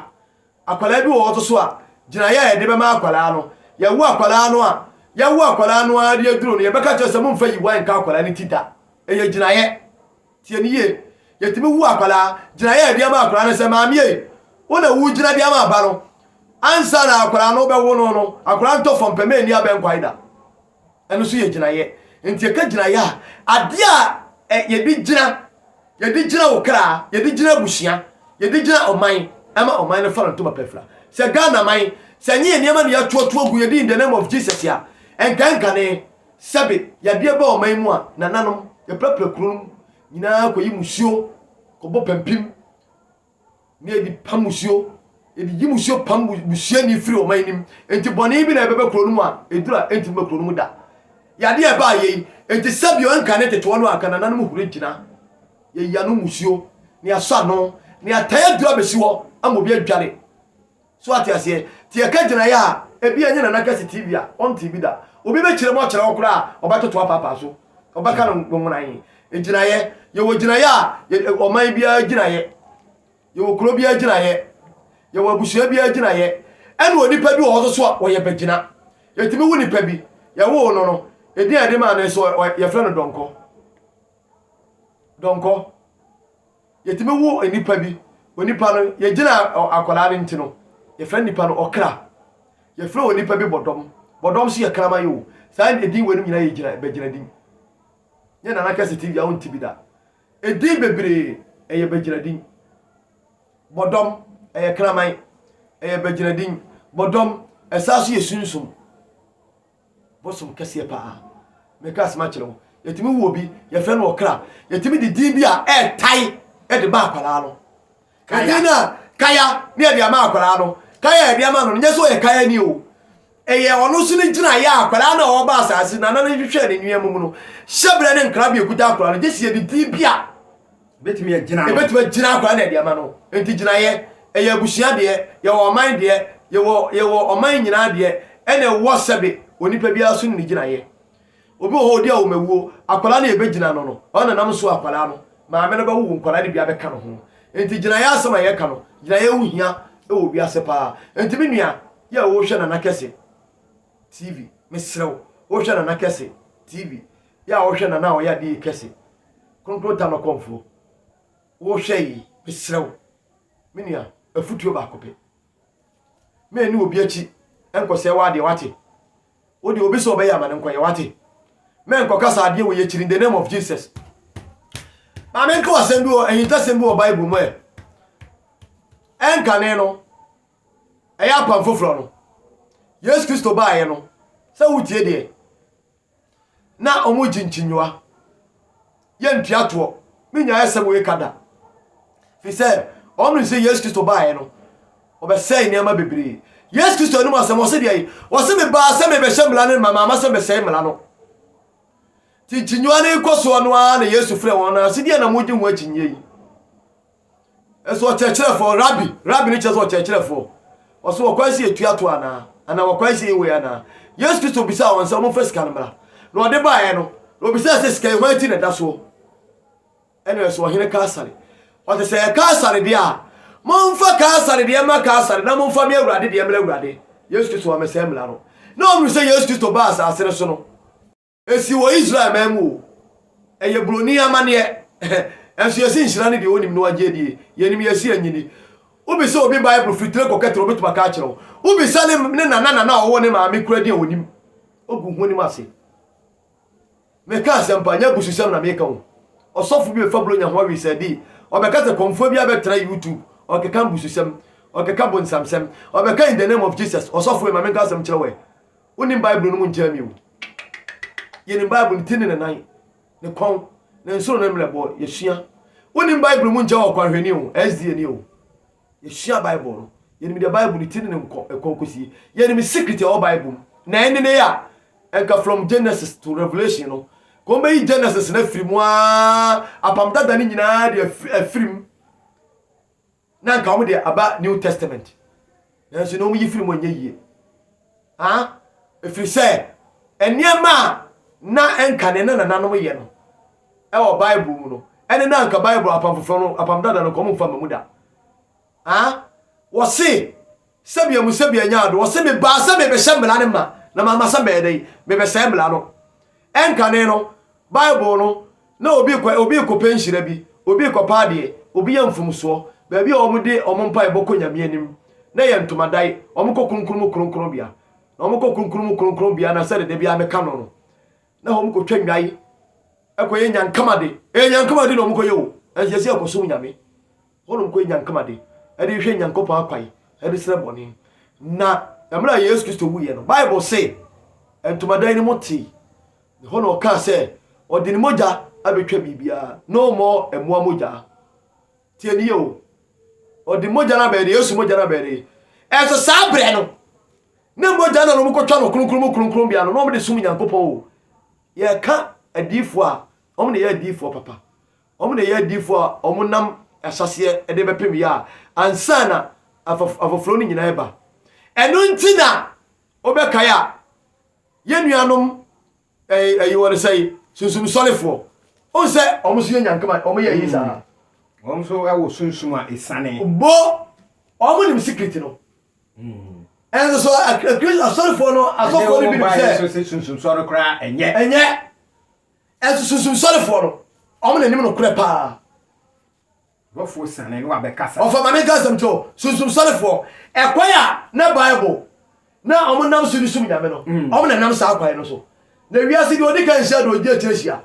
Akwadaa bi wɔ hɔ nso so a, gyinaeɛ a yɛde bɛma akwadaa no, yɛwo akwadaa no a, yɛwo akwadaa no ara de aduro no, yɛbɛka kyerɛ sɛ momfa yiwae nka akwadaa no ti da. Ɛyɛ gyinaeɛ. Tie no yie, Yɛtumi hu akwadaa gyinaeɛ a yɛde ama akwadaa no sɛ, Maame ei, wo na wogyina de ama aba no. Ansa na akwadaa no bɛwo no no, akwadaa ntɔ fam pɛ, manni abɛn kwae da. Ɛno nso yɛ gyinaeɛ. Nti yɛka gyinaeɛ a, adeɛ a eh, yɛde gyina, yɛde gyina wo kra, yɛde gyina abusua, yɛde gyina ɔman, ɛma ɔman no fa no ntoma pɛ fira. Sɛ Ghana man, sɛ ɛnyɛ yɛn nneɛma na yɛatoatoa gu, yɛde in the name of Jesus a, ɛnka ɛnkane. Sɛbe yadeɛ ba ɔman mu a, nananom, yɛprapra kuro no mu nyinaa kɔyi musuo kɔbɔ pampim na yɛde pam musuo, yɛde yi musuo pam busuani firi ɔman no mu. Enti bɔne bi na ɛbɛba kuro no mu a, eduru a ɛntumi ba kuro no mu da. Yadeɛ a ɛbaa yei, enti sɛbio nka ne tetewa no a, anka nananom huri gyina. Yɛyi ano musuo, na yɛasɔ ano, na yɛatae aduru abɛsi hɔ ama obi adwane. So wate aseɛ? Nti yɛka gyinaeɛ a, ebia ɛnyɛ Nana Kɛse TV a, ɔntee bi da. Obi bɛkyerɛ mu akyerɛ wo koraa a, ɔbɛtoto apaapaa so. Ɔbɛka no nwonae. Gyinaeɛ, yɛwɔ gyinaeɛ a, yɛ- ɛ- ɔman biara gyinaeɛ. Yɛwɔ kuro biara gyinaeɛ. Yɛwɔ abusua biara gyinaeɛ. Ɛna onipa bi wɔ hɔ so so a, ɔyɛ bɛgyina. Yɛtumi wo nipa bi, yɛwoo no no, edin a yɛde maa no nso, ɔ- ɔ- yɛfrɛ no Dɔnkɔ. Dɔnkɔ. Yɛtumi wo nnipa bi, onipa no, yɛgyina akwadaa no nti no, yɛfrɛ nnipa no ɔkra. Yɛfrɛ onipa bi bɔdɔm. Bɔdɔm nso yɛ kraman o. Saa edin weinom nyinaa yɛ gyina bɛgyina din. Nyɛ Nana Kɛse TV a wonte bi da. Edin bebree ɛyɛ bɛgyina din. Bɔdɔm ɛyɛ kraman, ɛyɛ bɛgyina din. Bɔdɔm ɛsaa so yɛ sunsum. Bosom kɛseɛ paa. Meka asem akyerɛ wo. Yɛtumi wo obi, yɛfrɛ no ɔkra. Yɛtumi de din bi a ɛɛtae de ma akwadaa no. Edin no a kaya ne yɛde ama akwadaa no. Kaya a yɛde ama no no, nyɛ sɛ ɔyɛ kaya ni o. Ɛyɛ ɔno nso ne gyinaeɛ a akwadaa no a ɔba asase nana no hwehwɛ ne nneɛma mu no. Hyɛbrɛ ne nkrabea kuta akwadaa no, gye sɛ yɛde din bi a Ebetumi agyina no. Ebetumi agyina akora na ɛde ama no. Enti gyinaeɛ, ɛyɛ abusua deɛ, yɛwɔ ɔman deɛ, yɛwɔ yɛwɔ ɔman nyinaa deɛ, ɛna ɛwɔ sɛbe onipa biara so ne ne gyinaeɛ. Obi wɔ hɔ odi awomawuo, akwadaa no yɛbɛgyina no no, ɔno na nam so akwadaa no, maame no bɛwo nkwadaa no bi abɛka no ho. Enti gyinaeɛ asɛm a yɛka no, gyinaeɛ ho hia wɔ wiase paa. Enti me nua, yɛ a wohwɛ Nana Kɛse TV, mesrɛ wo, wohwɛ Nana Kɛse TV, Yɛ a wohwɛ na na ɔyɛ adeyɛ kɛse. Kronkron ta no kɔmfoɔ, wohwɛ yi, mesrɛ wo, me nua, afutuo baako pɛ. Mɛ ni obi akyi nkɔsɛe w'adeɛ, wate? Wo deɛ obi sɛ ɔbɛyɛ ama no nkɔyɛ, wate? Mɛ nkɔkasa adeɛ wɔ yɛkyiri in the name of Jesus. Maame nka asɛm bi wɔ ahintasɛm bi wɔ Bible mu ɛ. Ɛnkane no, ɛyɛ apam foforɔ no. Yesu Kristo baeɛ no, sɛ wotie deɛ, na ɔmo gye nkyinyowa. Yɛ ntua toɔ, me nyaɛ asɛm wei ka da. Firi sɛ ɔmo nim sɛ Yesu Kristo baeɛ no, ɔbɛsɛe nneɛma bebree. Yesu Kristo anum asɛm, ɔse deɛ yi, ɔse me baa sɛ mebɛhyɛ mmara no ma, maama sɛ mesɛe mmara no. Ti nkyinyowa no kɔ soɔ no ara na Yesu frɛ wɔn na ɔse deɛ na mogye ho akyinyeɛ yi. Nso ɔkyerɛkyerɛfoɔ, Rabbi, Rabbi no kyerɛ sɛ ɔkyerɛkyerɛfoɔ. Ɔso wɔkɔ ase etua to anaa? Anaa wɔkɔ ase yi wei anaa? Yesu Kristo bisaa wɔn sɛ wɔmfa sika no mmra. Na ɔde baeɛ no, na obisaa sɛ sika yi hwan ti na ɛda soɔ? Ɛna ɛsɛ ɔhene Kaesare. Ɔte sɛ ɛyɛ Kaesare deɛ a, momfa Kaesare deɛ mma Kaesare na momfa me Awurade deɛ mmra Awurade. Yesu Kristo wɔamɛsɛe mmara no. Na wɔhunu sɛ Yesu Kristo baa asase no so no, Ɛsi wɔ Israel man mu o. Ɛyɛ buroni amanneɛ. Nanso yɛse nhyira ne deɛ ɔnim na wagye adie. Yɛnim yɛse anyini. Wobisa obi Bible firi tire kɔka tire ɔbɛtumi aka akyerɛ wo. Wobisa ne ne nana nana a ɔwɔ ne maame koraa din a ɔnim. Ɔgu honim ase. Meka asɛmpa, nyɛ abususɛm na meka o. Ɔsɔfo bi bɛfa Buronya ho awisɛɛde yi, ɔbɛka sɛ kɔmfoɔ biara bɛtra YouTube, ɔkeka mbususɛm, ɔkeka bonsamsɛm, ɔbɛka in the name of Jesus, ɔsɔfo ei ma menka asɛm nkyerɛ wo ɛ. Wonnim Bible no mu nkyɛn bio. Yɛnim Bible ne ti ne ne nan, ne kɔn, ne nsoro ne mmerɛbɔ. Yɛsua. Wonnim Bible mu nkyɛn ɔkwanhwɛni o, SDA ni o. Yɛsua Bible no. Yɛnim deɛ Bible ne ti ne ne kɔn kɔsie. Yɛnim secret ɛwɔ Bible mu. Na ɛnene a, ɛnka from Genesis to Revelation no, nka wɔbɛyi Genesis no afiri mu aa, Apam Dada no nyinaa de afiri mu. Na anka wɔn deɛ aba New Testament, nanso na wɔn yi firi mu ɛnyɛ yie. Haa, ɛfiri sɛ nneɛma a na ɛnka ne na nananom yɛ no ɛwɔ Bible mu no, ɛne na anka Bible apam foforɔ no, apam dada no, nka wɔn mfa mma mu da. Haa, wɔse. Sɛbea mu sɛbea nyaa do, ɔse, Mebaa sɛ merebɛhyɛ mmara no ma, na mama sɛ mɛyɛ dɛn? Merebɛsɛe mmara no. Ɛnkane no, Bible no, na obi rekɔ, obi rekɔpɛ nhyira bi, obi rekɔpɛ adeɛ, obi reyɛ mfomsoɔ. Baabi a wɔde wɔn mpaebɔ kɔ Nyame anim na ɛyɛ ntomadan, wɔkɔ Kronkron mu Kronkronbea, na wɔkɔ Kronkron mu Kronkronbea na sɛdeɛ da biara meka no no, na wɔkɔtwa nnwan, ɛkɔyɛ nyankamade, ɛyɛ nyankamade na wɔkɔyɛ o, nanso yɛse yɛkɔsom Nyame. Hɔnom kɔ nya nkama de ɛde hwehwɛ Nyankopɔn akwan ɛde srɛ bɔne. Na ɛmerɛ a Yesu Kristo wuiɛ no, Bible se ntomadan no mu tee. Ɛhɔ na ɔkaa sɛ ɔde ne mogya abɛtwa biribiara, no more mmoa mogya. Tie ne yie o, ɔde mogya no abɛyɛ de, Yesu mogya no abɛyɛ de. Ɛnso saa berɛ no, ne mogya na wɔn kɔtwa no kronkron mu kronkron bea no, na wɔn de som Nyankopɔn o. Yɛka adiifoɔ a, wɔn na ɛyɛ adiifoɔ papa. Wɔn na ɛyɛ adiyifoɔ a wɔnam ahyɛaseɛ de bɛpem Yah ansa na afɔforɔ no nyinaa reba. Ɛno nti na wobɛkae a, yɛn nuanom ɛyi wɔn sɛ sunsum sɔrefoɔ. Wohu sɛ wɔn nso yɛ nyankeman, wɔn yɛ eyi saa. Wɔn nso wɔ sunsum a esiane. Bo, wɔn nim secret no. Ɛnso so asɔrefoɔ no, asɔfoɔ no binom sɛ. Ɛnde wɔn baayɛ nso sɛ sunsum sɔre koraa ɛnyɛ. Ɛnyɛ. Nso sunsum sɔrefoɔ no, wɔn na nim nokorɛ paa. Bɔfoɔ siane ne wabɛkasa. Ɔfa Maame Nka asɛm kyerɛ sunsum sɔrefoɔ. Ɛkwan a na Bible na wɔn nam so de som Nyame no, mm. wɔn na nam saa kwan no so. Na wiase deɛ ɔdi kan nhyia deɛ ɔgye akyire hyia.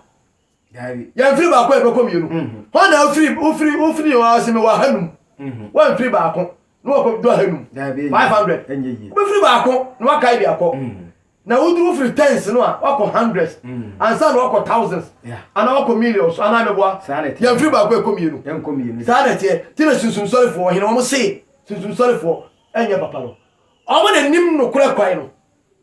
Yɛmfiri baako a yɛbɛkɔ mmienu. Mm-hmm. Hɔ na wofiri wofiri wofiri yɛn ase mewɔ ahanum. Mm-hmm. Wɔmfiri baako na wɔkɔ do ahanum. Five hundred. Wobɛfiri baako na wakae de akɔ. Mm-hmm. Na woduru firi tens no a wakɔ hundreds mm. ansa na wakɔ thousands ana wakɔ millions ana meboa yɛmfiri baako ɛkɔ mmienu saa na ɛteɛ ti na sunsumsɔrefoɔ ɔhene wɔn se sunsumsɔrefoɔ ɛnyɛ papa no wɔn na nim nokorɛ kwan no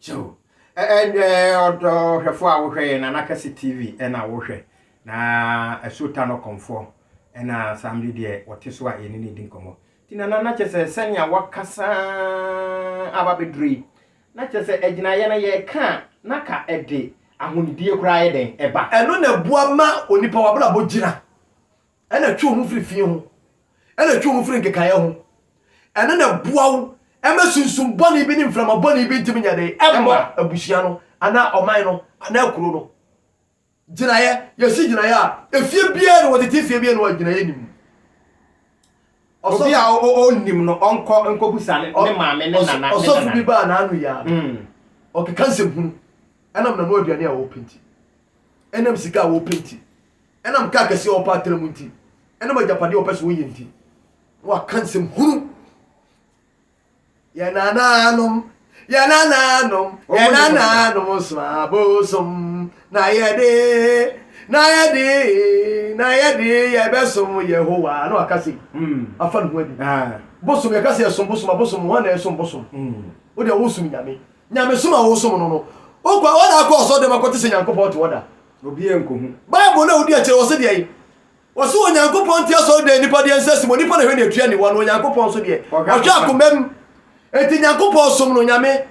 kyɛw ɔhwɛfoɔ a wohwɛ yɛ nana kɛse tv ɛna wohwɛ na ɛso ta no kɔmfoɔ ɛna saa mmere deɛ wɔte so a yɛne ne di nkɔmmɔ nti nana na kyɛ sɛ sɛnea wakasa aba bɛduru yi Na kyerɛ sɛ agyinaeɛ no yɛka a na ka ɛde ahonidie koraa yɛ dɛn ɛba. Ɛno na ɛboa ma onipa w'abrabɔ gyina, ɛna ɛtwe wo ho firi fii ho, ɛna ɛtwe wo ho firi nkekaeɛ ho, ɛno na ɛboa wo ma sunsum bɔne bi ne mframa bɔne bi ntumi nyɛ dɛn ɛmmɔ abusua no anaa ɔman no anaa kuro no. Gyinaeɛ, Yɛsi gyinaeɛ a, efie biara ni, wɔtete fie biara ni hɔ a gyinaeɛ nni mu. Obi a ɔnnim no, ɔnkɔ nkɔbisa ne maame ne nana. Ɔsɔfo bi baa n'ano yi ara no, ɔkeka nsɛm hunu, ɛnam n'ano aduane a wɔpɛ nti, ɛnam sika a wɔpɛ nti, ɛnam kaa kɛseɛ a wɔpɛ atra mu nti, ɛnam agyapadeɛ a wɔpɛ sɛ wɔyɛ nti, na waka nsɛm hunu. Yɛn nanaanom, yɛn nanaanom, yɛn nanaanom som abosom. Na yɛde, na yɛde, na yɛde yɛbɛsom Yehowa. Na waka se, hmm. afa ne ho adi. Ah. Bosom, yɛka se yɛsom bosom, abosom, wɔn na ɛsom bosom. Hmm. Wo deɛ wosom Nyame. Nyamesom a wosom no no, wokɔ wɔda akɔ ɔsɔre dɛm akɔte sɛ Nyankopɔn te wɔda. Obiara nkohu. Bible na wodi akyerɛ wɔ se deɛ Wɔse Onyankopɔn nte asɔredan a nnipa de yɛ nsa si mu, onipa na ɛhwɛ nea ɛtua aniwa no, Onyankopɔn nso deɛ, ɔhwɛ akomam. Enti Nyankopɔn som no, Onyame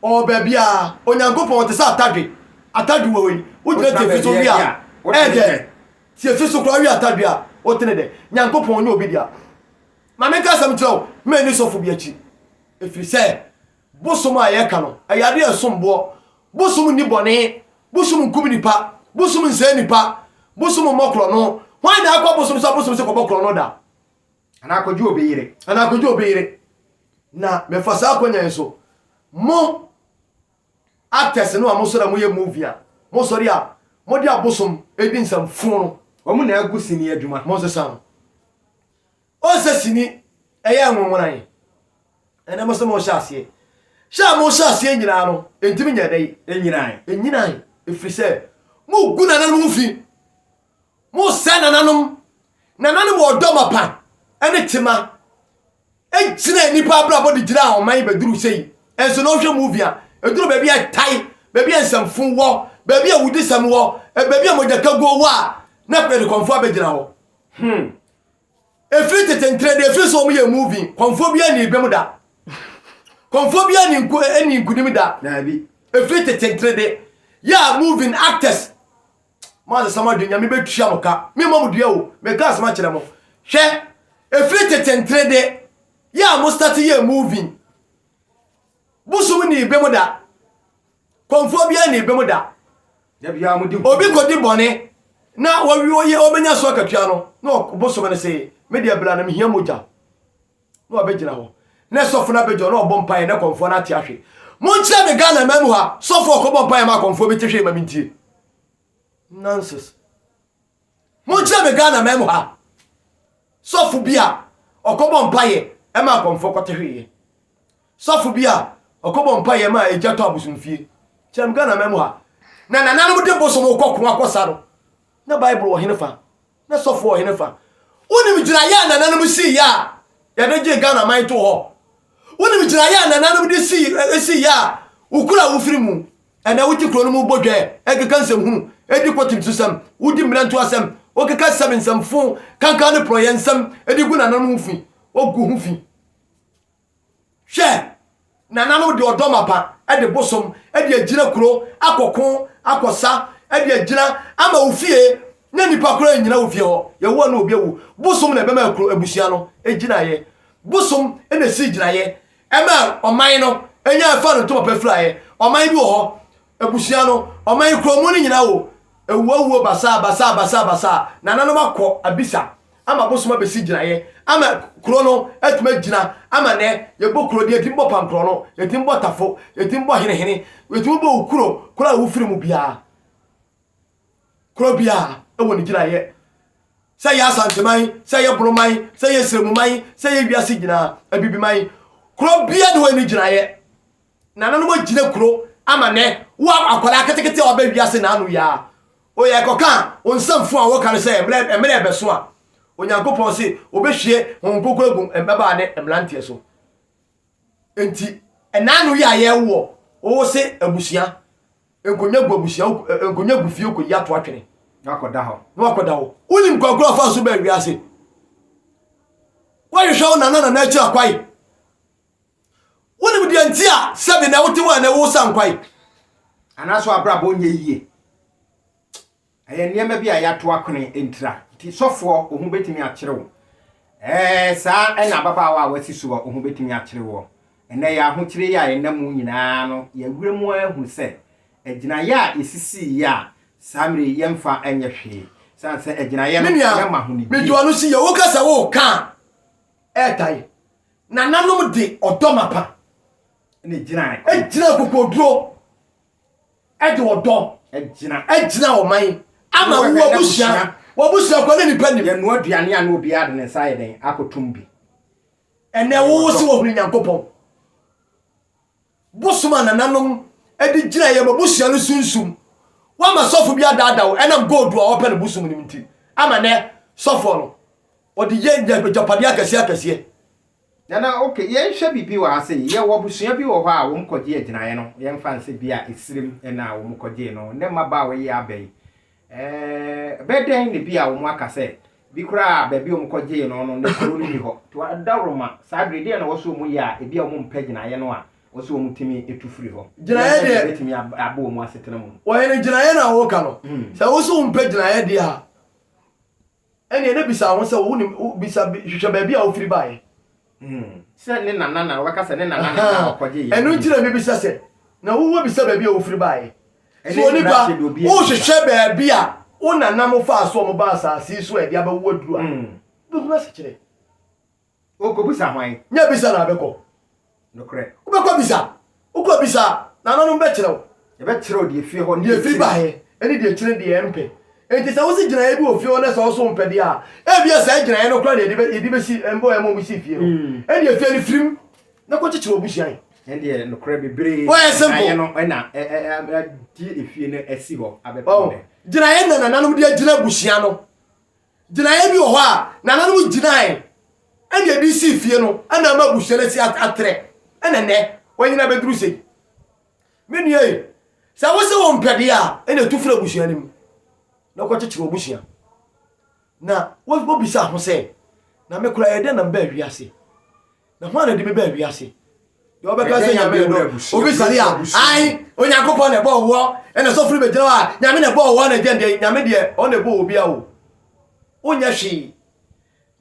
ɔwɔ baabiara, Onyankopɔn ɔte sɛ atadwe, atadwe wɔ hɔ yi, wogyina tiafi so we a, ɛyɛ dɛ, tiafi so koraa we atadwe a, wote ne dɛ? Nyankopɔn nyɛ obi dea. Ma menka asɛm nkyerɛ wo, manni sɔfo bi akyi, ɛfiri sɛ Bosom a yɛka no, ɛyɛ ade a ɛsom boɔ. Bosom nni bɔne. Bosom nkum nnipa. Bosom nsɛe nnipa. Bosom mmɔ korɔno. Hwan na akɔ abosom so a bosom sɛ kɔbɔ korɔno da? Anaa kɔgye obi yere. Anaa kɔgye obi yere. Na mefa saa akɔnya yi so, mo actors no a mosɔre a moyɛ movie a, mosɔre a mode abosom di nsɛm fuu no. Wɔn na agu sini adwuma. Monsesa no. Ɔnsɛ sini ɛyɛ nwonwona yɛ ɛnɛ mo se mo hyɛ aseɛ hyɛ a mo hyɛ aseɛ nyinaa no ɛntimi nyɛ dɛn ɛnyinae ɛnyinae ɛfiri sɛ mo gu nananom ho fi mo sɛ nananom nananom wɔ ɔdɔ mapa ɛne tema ɛgyina nnipa abrabɔ de gyina ɔman bɛduru sei ɛnso na ɔhwɛ movie a ɛduru baabi a ɛtae baabi a nsɛmfo wɔ baabi a wudisɛm wɔ baabi a mogyakaguo wɔ a na pɛdekɔmfoɔ abɛgyina hɔ hmm Ɛfiri tete nkyerɛ deɛ ɛfiri sɛ wɔn yɛ muvi kɔnfoɔ bi ani bɛm da kɔnfoɔ bi ani nko ani nkunim da daabi ɛfiri tete nkyerɛ de yɛ a muvi actors mo asesa mo adwene nyame bɛtua mo ka me mɔ mo dua o meka asɛm akyerɛ mo hwɛ ɛfiri tete nkyerɛ de yɛ a mo start yɛ muvi bosom ni bɛm da Kɔmfoɔ biara nnii bem da. Obi kɔdi bɔne na ɔbɛnya so akatua no, na ɔbosome no se, me deɛ bla na mehia mogya. Na wabɛgyina hɔ. Na sɔfo no abɛgyina hɔ na ɔbɔ mpaeɛ na kɔmfoɔ no ate ahwe. Monkyerɛ me Ghana man mu ha, sɔfo ɔkɔbɔ mpaeɛ ma kɔmfoɔ bi te hwee ma mentie. Nonsense. Monkyerɛ me Ghana man mu ha sɔfo bi a ɔkɔbɔ mpaeɛ ɛma akɔmfoɔ kɔteheeɛ. Sɔfo bi a ɔkɔbɔ mpaeɛ ɛma egya tɔ abosomfie. Kyerɛ me Ghana man mu ha. Na nananom de bosom kɔ ko akɔsa no. Na Bible wɔ hene fa? Na sɔfo wɔ hene fa? Wonim gyinaeɛ a nananom siiɛ a yɛde gyee Ghana man too hɔ? Wonim gyinaeɛ a nananom de sii, esiiɛ a wokura wofiri mu? Ɛnna wote kurow no mu bɔ dwɛɛ, ɛkeka nsɛmhunu, edi kɔ tinimsosɛm, wodi mmerɛnto asɛm, wokeka asɛm nsɛmfo, kankan ne porɔyɛ nsɛm de gu nananom ho fi, wogu ho fi. Hwɛ! Nananom de ɔdɔ mapa de bosom de agyina kurow akɔko akɔsa de agyina ama wo fie na nnipa koraa nnyina wo fie hɔ. Yehowa ne obi awu. Bosom na ɛbɛma kurow abusua no gyinaeɛ. Bosom na esii gyinaeɛ Ɛmaa ɔman no nyaa faa no ntoma pa firaeɛ. Ɔman bi wɔ hɔ, abusua no, ɔman kuro mu no nyinaa wɔ awuo awuo basaa basaa basaa basaa. Nananom akɔ abisa ama abosom abɛsi gyinaeɛ ama kuro no atumi agyina ama nɛ yɛbɔ kuro deɛ yɛtumi bɔ pankorɔ no, yɛtumi bɔ tafo, yɛtumi bɔ henehene, yɛtumi bɔ wo kuro, kuro a wofiri mu biara. Kuro biara wɔ ne gyinaeɛ. Sɛ ɛyɛ Asanteman, sɛ ɛyɛ Boroman, sɛ ɛyɛ Siramuman, sɛ ɛyɛ wiase nyinaa, Abibiman, kuro biara na wɔyɛ ne gyinaeɛ. Nananom agyina kuro ama nɛ wo akwadaa ketekete a ɔbɛ wiase na ano yaa. Oyɛ ɛkɔka a, wo nsɛm fo a wɔka no sɛ mmerɛ ɛbɛso a, Onyankopɔn se obɛhwie Honhom Kronkron agu mmabaa ne mmeranteɛ so. Enti, ɛna ano yɛ a yɛwɔ, wowo se abusua. Nkonnwa gu abusua, nkonnwa gu fie kɔ yi ato atwene. Na wakɔda hɔ. Na wakɔda hɔ. Wonim kwankura afa so bɛn wiase? Woahwehwɛ wo nana nana akyira kwae. Wonim deɛ nti a sɛbi na wote hɔ a na ɛwo sa nkwae. Anaasɛ w'abrabɔ nyɛ yie. Ɛyɛ nneɛma bi a yɛato akwene ntira nti, sɔfoɔ, wo ho bɛtumi akyere wo. Ɛɛ, saa ara na ababaawa a wasi so a, wo ho bɛtumi akyere woɔ. Ɛnnɛ, yɛn ahokyere yi a yɛnam mu nyinaa no, yɛn werɛ mu ara hu sɛ, agyinaeɛ a yɛsisiiɛ a, saa mmerɛ yi yɛmfa nyɛ hwee. Ɛsiane sɛ agyinaeɛ no, yɛma ahonidie. Me nua, mede ɔno si yɛ. Woka sɛ woreka a, ɛɛtae. Nananom de ɔdɔ mapa na ɛgyinae. Ɛgyinaa akokoɔduro de ɔdɔ gyina wɔn man ama wo abusua w'abusua kɔ ne nipa nim yɛn noa aduane a na obiara de ne nsa ayɛ dɛn akɔtom bi ɛnɛ wo sɛ wɔhunu nyankopɔn bosom a nananom de gyina yɛn abusua no sunsum woama sɔfo bi adaada wo ɛnam gold a wɔpɛ no bosom nim nti ama nɛ sɔfoɔ no ɔde yɛ agyapadeɛ akɛseɛ akɛseɛ Nana, ok, yɛnhwɛ biribi wɔ ha sei, yɛwɔ abusua bi wɔ hɔ a wɔn kɔgyee agyinaeɛ no, yɛmfa no sɛ bi a Esirim na wɔn kɔgyee no, ne mmabaawa yi abɛn ɛɛɛ bɛ dɛn na bi a wɔn aka sɛ bi koraa a baabi a wɔn kɔgyee no no na kuro no nni hɔ. To adawuroma, saa bere deɛn na ɛwɔ sɛ wɔn yɛ a ebi a wɔn mpɛ gyinaeɛ no a ɛwɔ sɛ wɔn tumi tu firi hɔ? Gyinaeɛ Yɛnhwɛ deɛ deɛ. ɛbɛtumi aba wɔn asetena mu. Ɔhene, gyinaeɛ no a woka no, sɛ wo so wompɛ gyinaeɛ deɛ a, Ɛnneɛ na bisa ho sɛ, Wonim, bisa, hwehwɛ baabi a ɔfiri baeɛ. Sɛ ne nana na wɔbɛka sɛ ne nana na na ɔkɔgye yɛn. Ɛno nti na mebisa sɛ, Na wo wɔ bisa baabi a wofiri baeɛ? So onipa, wohwehwɛ baabi a wo nananom faa so a wɔbaa asase yi so a ɛde abɛwo aduru a, wobɛhunu asekyerɛ? Onkobisa hwan? Nyɛ bisa na abɛkɔ. Nokorɛ. Wobɛkɔ bisa. Wokɔ bisa a, Nananom bɛkyerɛ wo. Yɛbɛkyerɛ wo deɛ efie hɔ ne deɛ efiri baeɛ, ɛne deɛ ɛkyerɛ ne deɛ ɛmpɛ. Enti sɛ wosi gyinaeɛ bi wɔ fie hɔ na sɛ wo so wompɛ deɛ a, ebia saa gyinaeɛ no koraa na yɛde bɛsi mmoa a ɛma wɔsii fie no. Ɛnneɛ fie no firim na kɔkyekyere w'abusua he. Ɛnneɛ nokorɛ bebree na gyinaeɛ no na agye efie no asi hɔ abɛpem nnɛ. Gyinaeɛ na Nananom de agyina abusua no Gyinaeɛ bi wɔ hɔ a nananom gyinae ɛna ɛde sii fie no ɛna ama abusua no asi atrɛ ɛna nɛ wɔanyina abɛduru sei. Me nua yi, sɛ wo se wo mpɛ deɛ a, ɛna ɛtu firi abusua no mu na wokɔkyekyere w'abusua. Na wobisa ho sɛ, na me koraa ɛyɛ dɛn na mebaa wiase? Na hwan na ɛde me baa wiase? Deɛ ɔbɛka sɛ Nyame na ɛdɔ obi sare a, ae, Onyankopɔn na ɛbɔ ɔwɔ, ɛna sɔfo no bɛgyina hɔ a, Nyame na ɛbɔ ɔwɔ na ɛgyɛn deɛ, Nyame deɛ ɔna ɛbɔ obi a o. Wonyɛ hwee.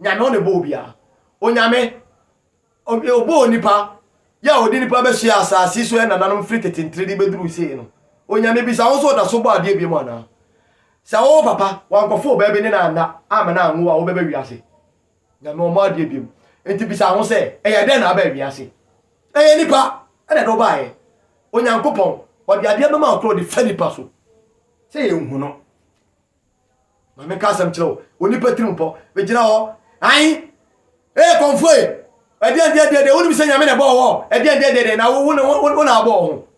Nyame ɔna ɛbɔ obi a. Onyame, ɔbɔ onipa, yɛ a ɔde nipa bɛhyɛ asase so ɛnananom firi tete ntere de bɛduru sei no. Onyame bisa wo nso ɔda so bɔ adeɛ biom anaa? Sɛ wowɔ papa, wankɔfo obaa bi ne no anna, amma no anwo a, wobɛba wiase. Na noa mo adeɛ bio. Enti bisa ho sɛ, Ɛyɛ dɛn na abɛn wiase? Ɛyɛ nnipa na ɛde wo baeɛ. Onyankopɔn, ɔde adeɛ bɛma wo korɔ de fa nnipa so sɛ yɛnhu no. Ma menka asɛm kyerɛ wo, onipa tirimpɔ, bɛgyina hɔ, ae, Ee kɔmfoe, ɛdeɛn deɛ deɛ deɛ, wonim sɛ Nyame na ɛbɔɔ wɔ, ɛdeɛn deɛ deɛ deɛ, na wo, wo, wo, wo na abɔ wo ho.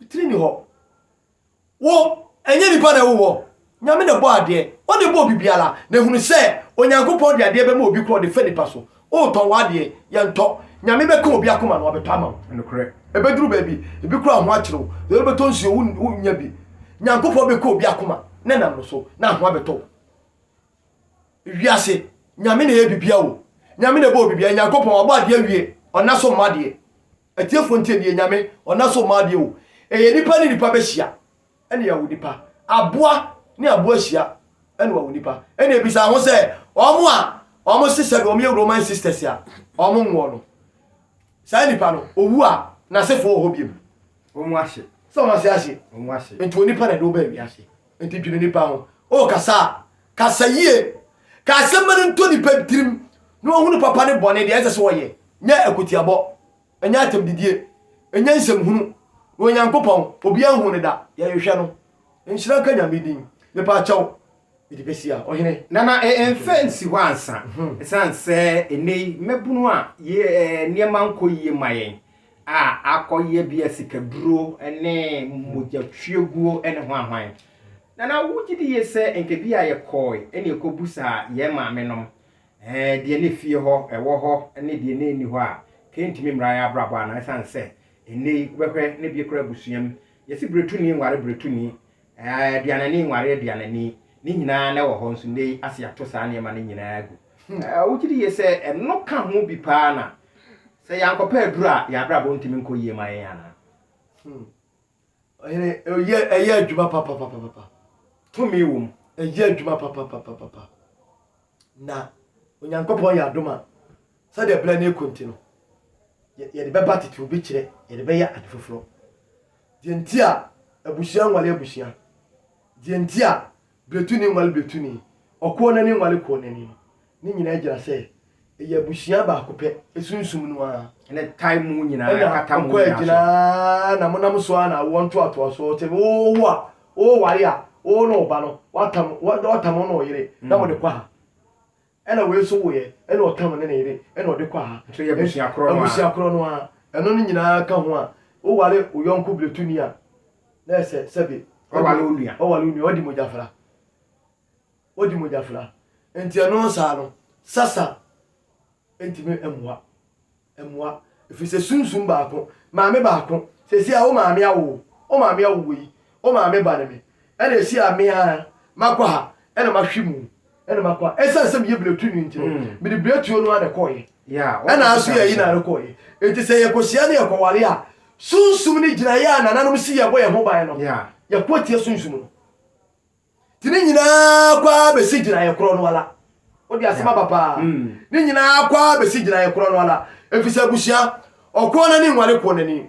Tiri ni hɔ. Wo, ɛnyɛ nnipa na ɛwo wɔ. Nyame na ɛbɔɔ adeɛ. Ɔne bɔɔ biribiara. Na hunu sɛ, Onyankopɔn de adeɛ bɛma obi korɔ de fa nnipa so. Woretɔn w'adeɛ, yɛntɔ. Nyame bɛka obi akoma na wabɛtɔ ama wo. Nokorɛ. Ɛbɛduru baabi, ebi koraa ho akyere wo. Deɛ wode bɛtɔ nsuo, wo, wonnya bi. Nyankopɔn bɛka obi akoma na ɛnam no so, na ahoa bɛtɔ wo. Wiase, Nyame na ɛyɛ biribiara o. Nyame na ɛbɔɔ biribiara. Nyankopɔn, wabɔ adeɛ awie. Ɔnna so mmɔ adeɛ. Atiefo ntie nie, Nyame, ɔna so mma adeɛ o, ɛyɛ nipa ne nipa bɛhyia ɛna wawo nipa, aboa ne aboa hyia ɛna wawo nipa, ɛna ɛbisa ho sɛ wɔn a wɔn sesɛ no wɔn yɛ Roman sisters a wɔn nwoɔ no, saa nipa no owu a n'asefoɔ wɔ hɔ biom? Wɔn ase. Sɛ wɔn ase ase. Wɔn ase. Nti onipa na ɛde wo baa wiase. Enti dwene nnipa ho. Wokasa a, kasa yie. Ka asɛm ma no ntɔ nnipa tirim na wɔhunu papa ne bɔne, deɛ ɛsɛ sɛ wɔyɛ. Nyɛ akotiabɔ, nyɛ atɛmdidie, nyɛ nsɛmhunu. Na Onyankopɔn, obiara nhuu no da, yɛhwehwɛ no. Nhyira nka Nyame din. Mepakyɛw, mede bɛsia, ɔhene. Nana e mfa nsi hɔ ansa. Ɛsiane sɛ nnɛyi mmabunu a yɛ nneɛma nkɔ yie ma yɛn a akɔyɛ bi a sikaduro ne mogyatwiaguo ne hwan hwan. Nana wogye di yie sɛ nka bi a yɛkɔɔe na yɛkɔbusaa yɛn maamenom deɛ na efie hɔ, ɛwɔ hɔ ne deɛ na ɛnni hɔ a, nka ɛntumi mmra yɛn abrabɔ anaa? Ɛsiane sɛ ɛnnɛ yi wobɛhwɛ na bi koraa abusua mu yɛse biretuni nware biretuni, aduanani nware aduanani, ne nyinaa na ɛwɔ hɔ nso nnɛ yi ase ato saa nneɛma no nyinaa agu. Wogye di yie sɛ ɛno ka ho bi pa ara na Sɛ yɛankɔpɛ aduru a, yɛn abrabɔ ntumi nkɔ yie ma yɛn anaa? Hmm. Ɔhene, ɛyɛ, ɛyɛ adwuma papapapapa. Tumi wom. Ɛyɛ adwuma papapapapa. Na Onyankopɔn yɛ adom a, sɛdeɛ berɛ no ɛkɔ nti no, yɛde bɛba tete obi kyerɛ, yɛde bɛyɛ ade foforɔ. Deɛ nti a abusua nwale abusua, deɛ nti a Bretuni nwale bretuni, ɔkoɔ nani nwale koɔ nani no, ne nyinaa gyina sɛ ɛyɛ abusua baako pɛ, sunsum no ara. Ɛna ɛtae mo nyinaa, ɛna ɛkata mo nyinaa so. Ɛna ɔkɔ agyina ara, na monam so ara na awoɔ ntoatoasoɔ te, wowo a, woware a, wo ne wo ba no, woatam, woatam wo ne wo yere, na mode kɔ ha. Ɛna wei nso woeɛ, ɛna ɔtan wo ne ne yere, ɛna ɔde kɔ aha. Nso yɛ abusua korɔ no ara. Abusua korɔ no ara. Ɛno no nyinaa ka ho a, woware wo yɔnko bletuni a, na ɛyɛ sɛ sɛbe. Waware wo nua. Waware wo nua, wadi mogyafra. Wadi mogyafra. Enti ɛno saa no, sasa ntumi mmoa. Mmoa, ɛfiri sɛ sunsum baako, maame baako, seesei a wo maame awo wo, wo maame awo wei, wo maame ba ne me, ɛna ɛsi a me ara makɔ ha ɛna mahwe mu ɛna makɔ ha. Ɛsiane sɛ meyɛ biretuni nti no, mm. mede biretuo no ara na ɛkɔɔyɛ. Ɛna aso yɛ yi na ano kɔɔyɛ. Enti sɛ yɛkɔhyia ne yɛkɔware a, sunsum ne gyinaeɛ a nananom si yɛbɔ yɛn ho ban no, yɛkɔ atia sunsum no. Nti ne nyinaa kɔ ara bɛsi gyinaeɛ korɔ no ara. Wode asɛm aba paa. Ne nyinaa kɔ ara bɛsi gyinaeɛ korɔ no ara. Ɛfiri sɛ abusua, ɔkoɔnani nwale koɔnani,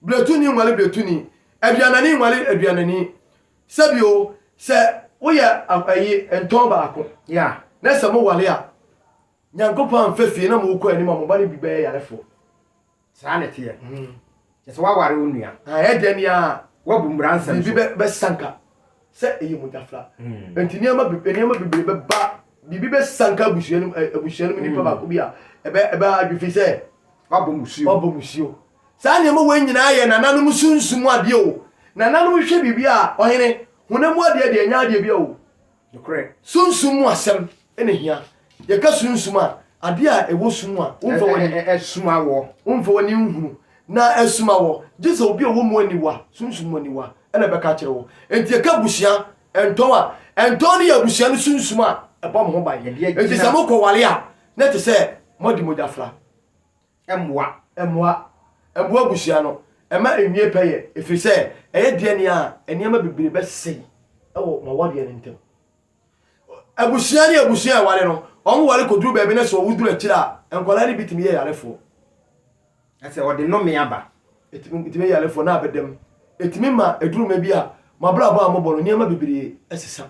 bretuni nwale bretuni, aduanani nwale aduanani. Sɛbio, sɛ woyɛ ayi ntɔn baako, na sɛ mowale a, Nyankopɔn amfa fie na morekɔ anim a, mo ba no bi bɛyɛ yarefoɔ. Saa na ɛteɛ. Kyɛ sɛ woaware wo nua. Ɛyɛ dɛn ni a woabu mmara nsɛm so. Biribi bɛsanka sɛ ɛyɛ mogyafra. Enti nneɛma bebree bɛba, biribi bɛsanka abusua no mu nipa mm. baako bi a ɛbɛha adwe fi sɛ wabɔ musuo. Saa nneɛma wei nyinaa yɛ nananom sunsum adeɛ o. Nananom hwɛ biribi a ɔhene honam mu adeɛ deɛ ɛnyɛ adeɛ bi o. Nokorɛ. Sunsum mu asɛm na ehia. Yɛka sunsum a, adeɛ a ɛwɔ sum mu a womfa w'ani. Ɛsum awɔ. Womfa w'ani nhunu, na ɛsum awɔ. Gye sɛ obi a ɔwɔ mu aniwa, sunsum mu aniwa, na ɛbɛka akyerɛ wo. Enti yɛka abusua, ntɔn a, ntɔn no yɛ abusua no sunsum a ɛbɔ mo ho ban. Enti sɛ mokɔware a, na ɛte sɛ moadi mogyafra. Mmoa. Mmoa. Mmoa abusua no, ɛma ɛnwie pɛyɛ, ɛfiri sɛ ɛyɛ deɛ nea nneɛma bebree bɛsɛe wɔ mo awadeɛ no ntam. Abusua ne abusua ɛware no, wɔn ware kɔduru baabi no sɛ wɔwo duru akyire a, nkwadaa no bi tumi yɛ yarefoɔ. Ɛsɛ wɔde nnome aba. Ɛtumi ɛtumi yɛ yarefoɔ na abɛdam. Ɛtumi ma ɛduru mɛ bi a, mo abrabɔ a mobɔ no, nneɛma bebree ɛsesa.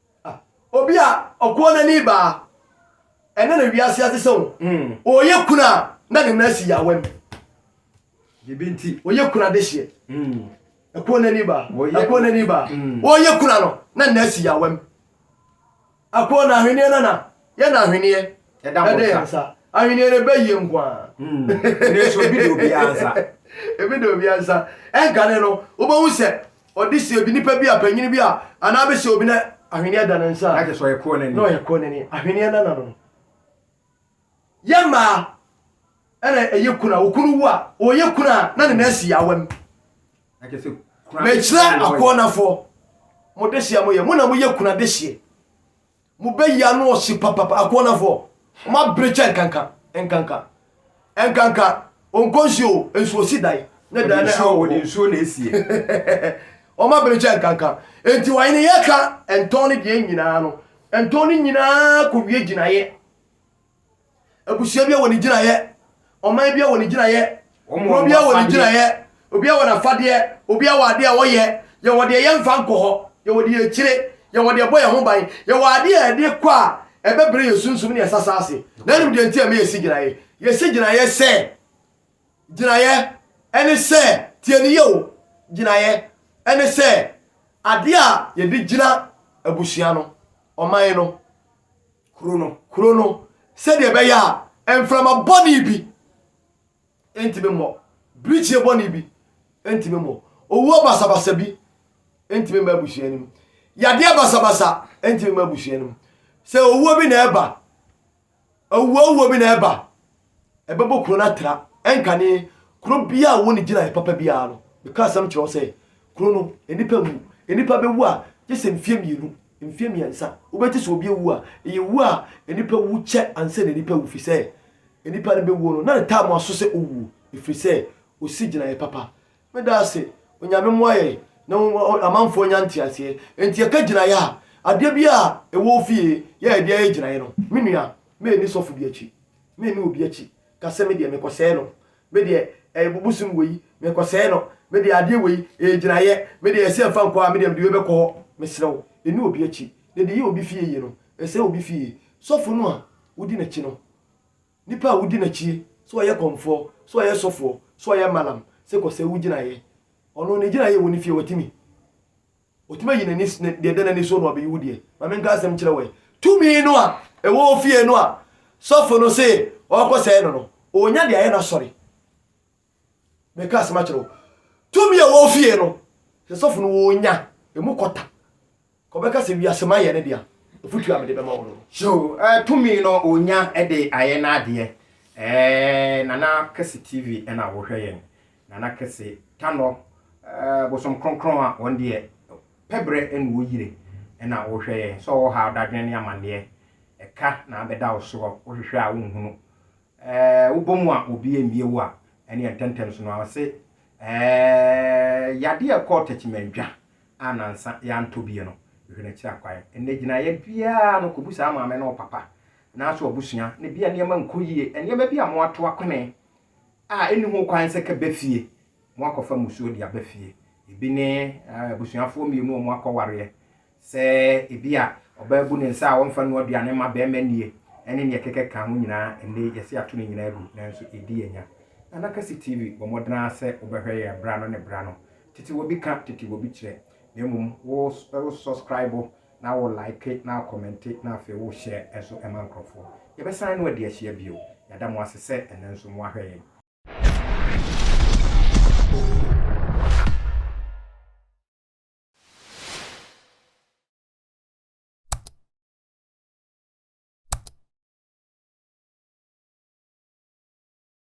Obi a ɔkɔɔ n'ani ba a, ɛnɛ na wiase ate sɛ ɔreyɛ kunu a na ne nan asi yawam. Ebi nti, ɔyɛ kunu adehyeɛ. Ɛkɔɔ n'ani ba, ɛkɔɔ n'ani ba. Ɔreyɛ kunu no, na ne nan asi yawam. Ɛkɔɔ n'ahweneɛ nana, Yɛ na ahweneɛ ɛda mo nsa. Ahweneɛ no ɛbɛ yie nko ara. Nanso ebi da obiara nsa. Ebi da obiara nsa. Ɛnkane no, wobɛhu sɛ ɔde si obi, nipa bi a, panyin bi a, anaa abɛhyɛ obi na ahweneɛ da ne nsa a. Na kyerɛ sɛ ɔyɛ kɔɔ n'ani. Na ɔyɛ kɔɔ n'ani. Ahweneɛ no nana no. Yɛ mmaa ɛna ɛyɛ kunu a, okunu wu a, ɔyɛ kunu a na ne nan si yaawa mu. Na kyerɛ sɛ kunu adehyia. Mekyerɛ akɔɔnafoɔ, mo dehyia mo yɛ, mo na mo yɛ kunu adehyia. Mo bɛ yi ano ɔhye papapa akoɔnafɔ ɔmo abere kyɛ nkanka nkanka nkanka ɔnkɔ nsuo o nsuo si dan ne dan ne awɔ ɔde nsuo na esie ɔmo abere kyɛ nkanka enti ɔhene yɛka ntɔn ne deɛ nyinaa no ntɔn ne nyinaa kɔ wie gyinaeɛ. Abusua biara wɔ ne gyinaeɛ. Ɔman biara wɔ ne gyinaeɛ. Kuro biara wɔ ne gyinaeɛ. Obiara wɔ n'afadeɛ. Obiara wɔ adeɛ a ɔyɛ. Yɛwɔ deɛ yɛmfa nkɔ hɔ. Yɛwɔ deɛ yɛkyire. Yɛwɔ deɛ ɛbɔ yɛn ho ban. Yɛwɔ adeɛ a yɛde kɔ a ɛbɛbrɛ yɛn sunsum ne yɛn sasa ase. Na wonim deɛ nti a ɛma yɛsi gyinaeɛ? Yɛsi gyinaeɛ sɛ, gyinaeɛ ne sɛ, tie no yie o, gyinaeɛ ne sɛ adeɛ a yɛde gyina abusua no, ɔman no, kuro no. Kuro no sɛdeɛ ɛbɛyɛ a mframa bɔne bi ntumi mmɔ, birikyie bɔne bi ntumi mmɔ, owuo basabasa bi ntumi mma abusua no mu, yadeɛ basabasa ntumi mma abusua no mu. Sɛ owuo bi na ɛba, owuo owuo bi na ɛba. ɛbɛbɔ kuro no atra, ɛnkane kuro biara a wɔnni gyinaeɛ papa biara no. Meka asɛm kyerɛ wo sɛ, kuro no, nnipa nwu. Nnipa bɛwu a, gye sɛ mfeɛ mmienu, mfeɛ mmiɛnsa. Wobɛte sɛ obi awu a, ɛyɛ wuo a nnipa wu kyɛ ansa na nnipa awu, ɛfiri sɛ nnipa no bɛwuo no, na ne time aso sɛ ɔwuo, ɛfiri sɛ ɔsi gyinaeɛ papa. Meda ase. Onyame mmoa yɛn na amanfoɔ nya nteaseɛ. Enti yɛka gyinaeɛ a, adeɛ biara a ɛwɔ wo fie yɛ a ɛde ayɛ gyinaeɛ no, me nua, mɛnni sɔfo bi akyi. Me nni obi akyi ka sɛ me deɛ mekɔsɛe no, me deɛ ɛyɛ bosom wei, mekɔsɛe no, me deɛ adeɛ wei, ɛyɛ gyinaeɛ, me deɛ ɛsɛ mfa nkɔ a, me deɛ mede wei bɛkɔ hɔ. Mesrɛ wo, nni obi akyi. Deɛ ɛde yɛ obi fie yie no, ɛsɛe obi fie. Sɔfo no a wodi n'akyi no, nnipa a wodi n'akyie, sɛ ɔyɛ kɔmfoɔ, sɛ ɔyɛ sɔfoɔ, sɛ ɔyɛ malam, sɛ kɔsɛe wo gyinaeɛ, ɔno ne gyinaeɛ wɔ ne fie, watumi. Otumi ayi n'ani s ne deɛ ɛda n'ani soɔ na wabeyi wo deɛ. Ma menka asɛm nkyerɛ wo ɛ. Tumi no a ɛwɔ wo fie no a sɔfo no se ɔrekɔsɛe no no, ɔrenya de ayɛ n'asɔre. Meka asɛm akyerɛ wo. Tumi a ɛwɔ wo fie no, sɛ sɔfo no ɔrenya ɛmu kɔta, kɔbɛka sɛ wiase ma yɛ ne dea, afotuo a mede bɛma wo no no. So eh, tumi no ɔrenya de ayɛ n'adeɛ. Eh, Nana Kɛse TV na wohwɛ yɛn. Nana kɛse Tanɔ ɛɛ bosom kronkron a wɔn deɛ pɛ berɛ na wɔyire ɛna wohwɛ yɛn sɛ ɔwɔ ha dadwen ne amanneɛ ɛka na abɛda wo soɔ wohwehwɛ a wonhunu ɛɛ wobɔ mu a obi ɛmmie wo a ɛneɛ ntɛntɛm so no a ɔse ɛɛ yadeɛ a ɛkɔɔ Takyimanndwa a nansa yɛantɔ bie no hwɛ no akyiri akwan ɛnɛ gyinaeɛ biara no kɔbu saa maame ne wo papa anaasɛ wabusua na ebia nneɛma nkɔ yie nneɛma bi a moato akwene a enni ho kwan sɛ kɛba fie, wɔakɔfa mmusuo de aba fie. Ebi ne abusuafoɔ mmienu a wɔakɔwareɛ, sɛ ebi a ɔbaa abu ne nsa a ɔmfa nnoa aduane mma barima nnie, ne deɛ ɛkeka ka ho nyinaa. Ɛnnɛ yi, yɛasi ato ne nyinaa agu, nanso yɛdi yɛn nya. Nana Kwasi TV, bɔ mmɔden ara sɛ wobɛhwɛ yɛn berɛ ano ne berɛ ano. Tete Wobi ka, Tete Wobi kyerɛ, na mmom wo sɔskraibo na wo like na wo kɔmɛnte na afei wo share nso ma nkorɔfoɔ. Yɛbɛsan no adi ahyia bio. Yɛada mo ase sɛ ɛnnɛ nso mo ahwɛ yɛn.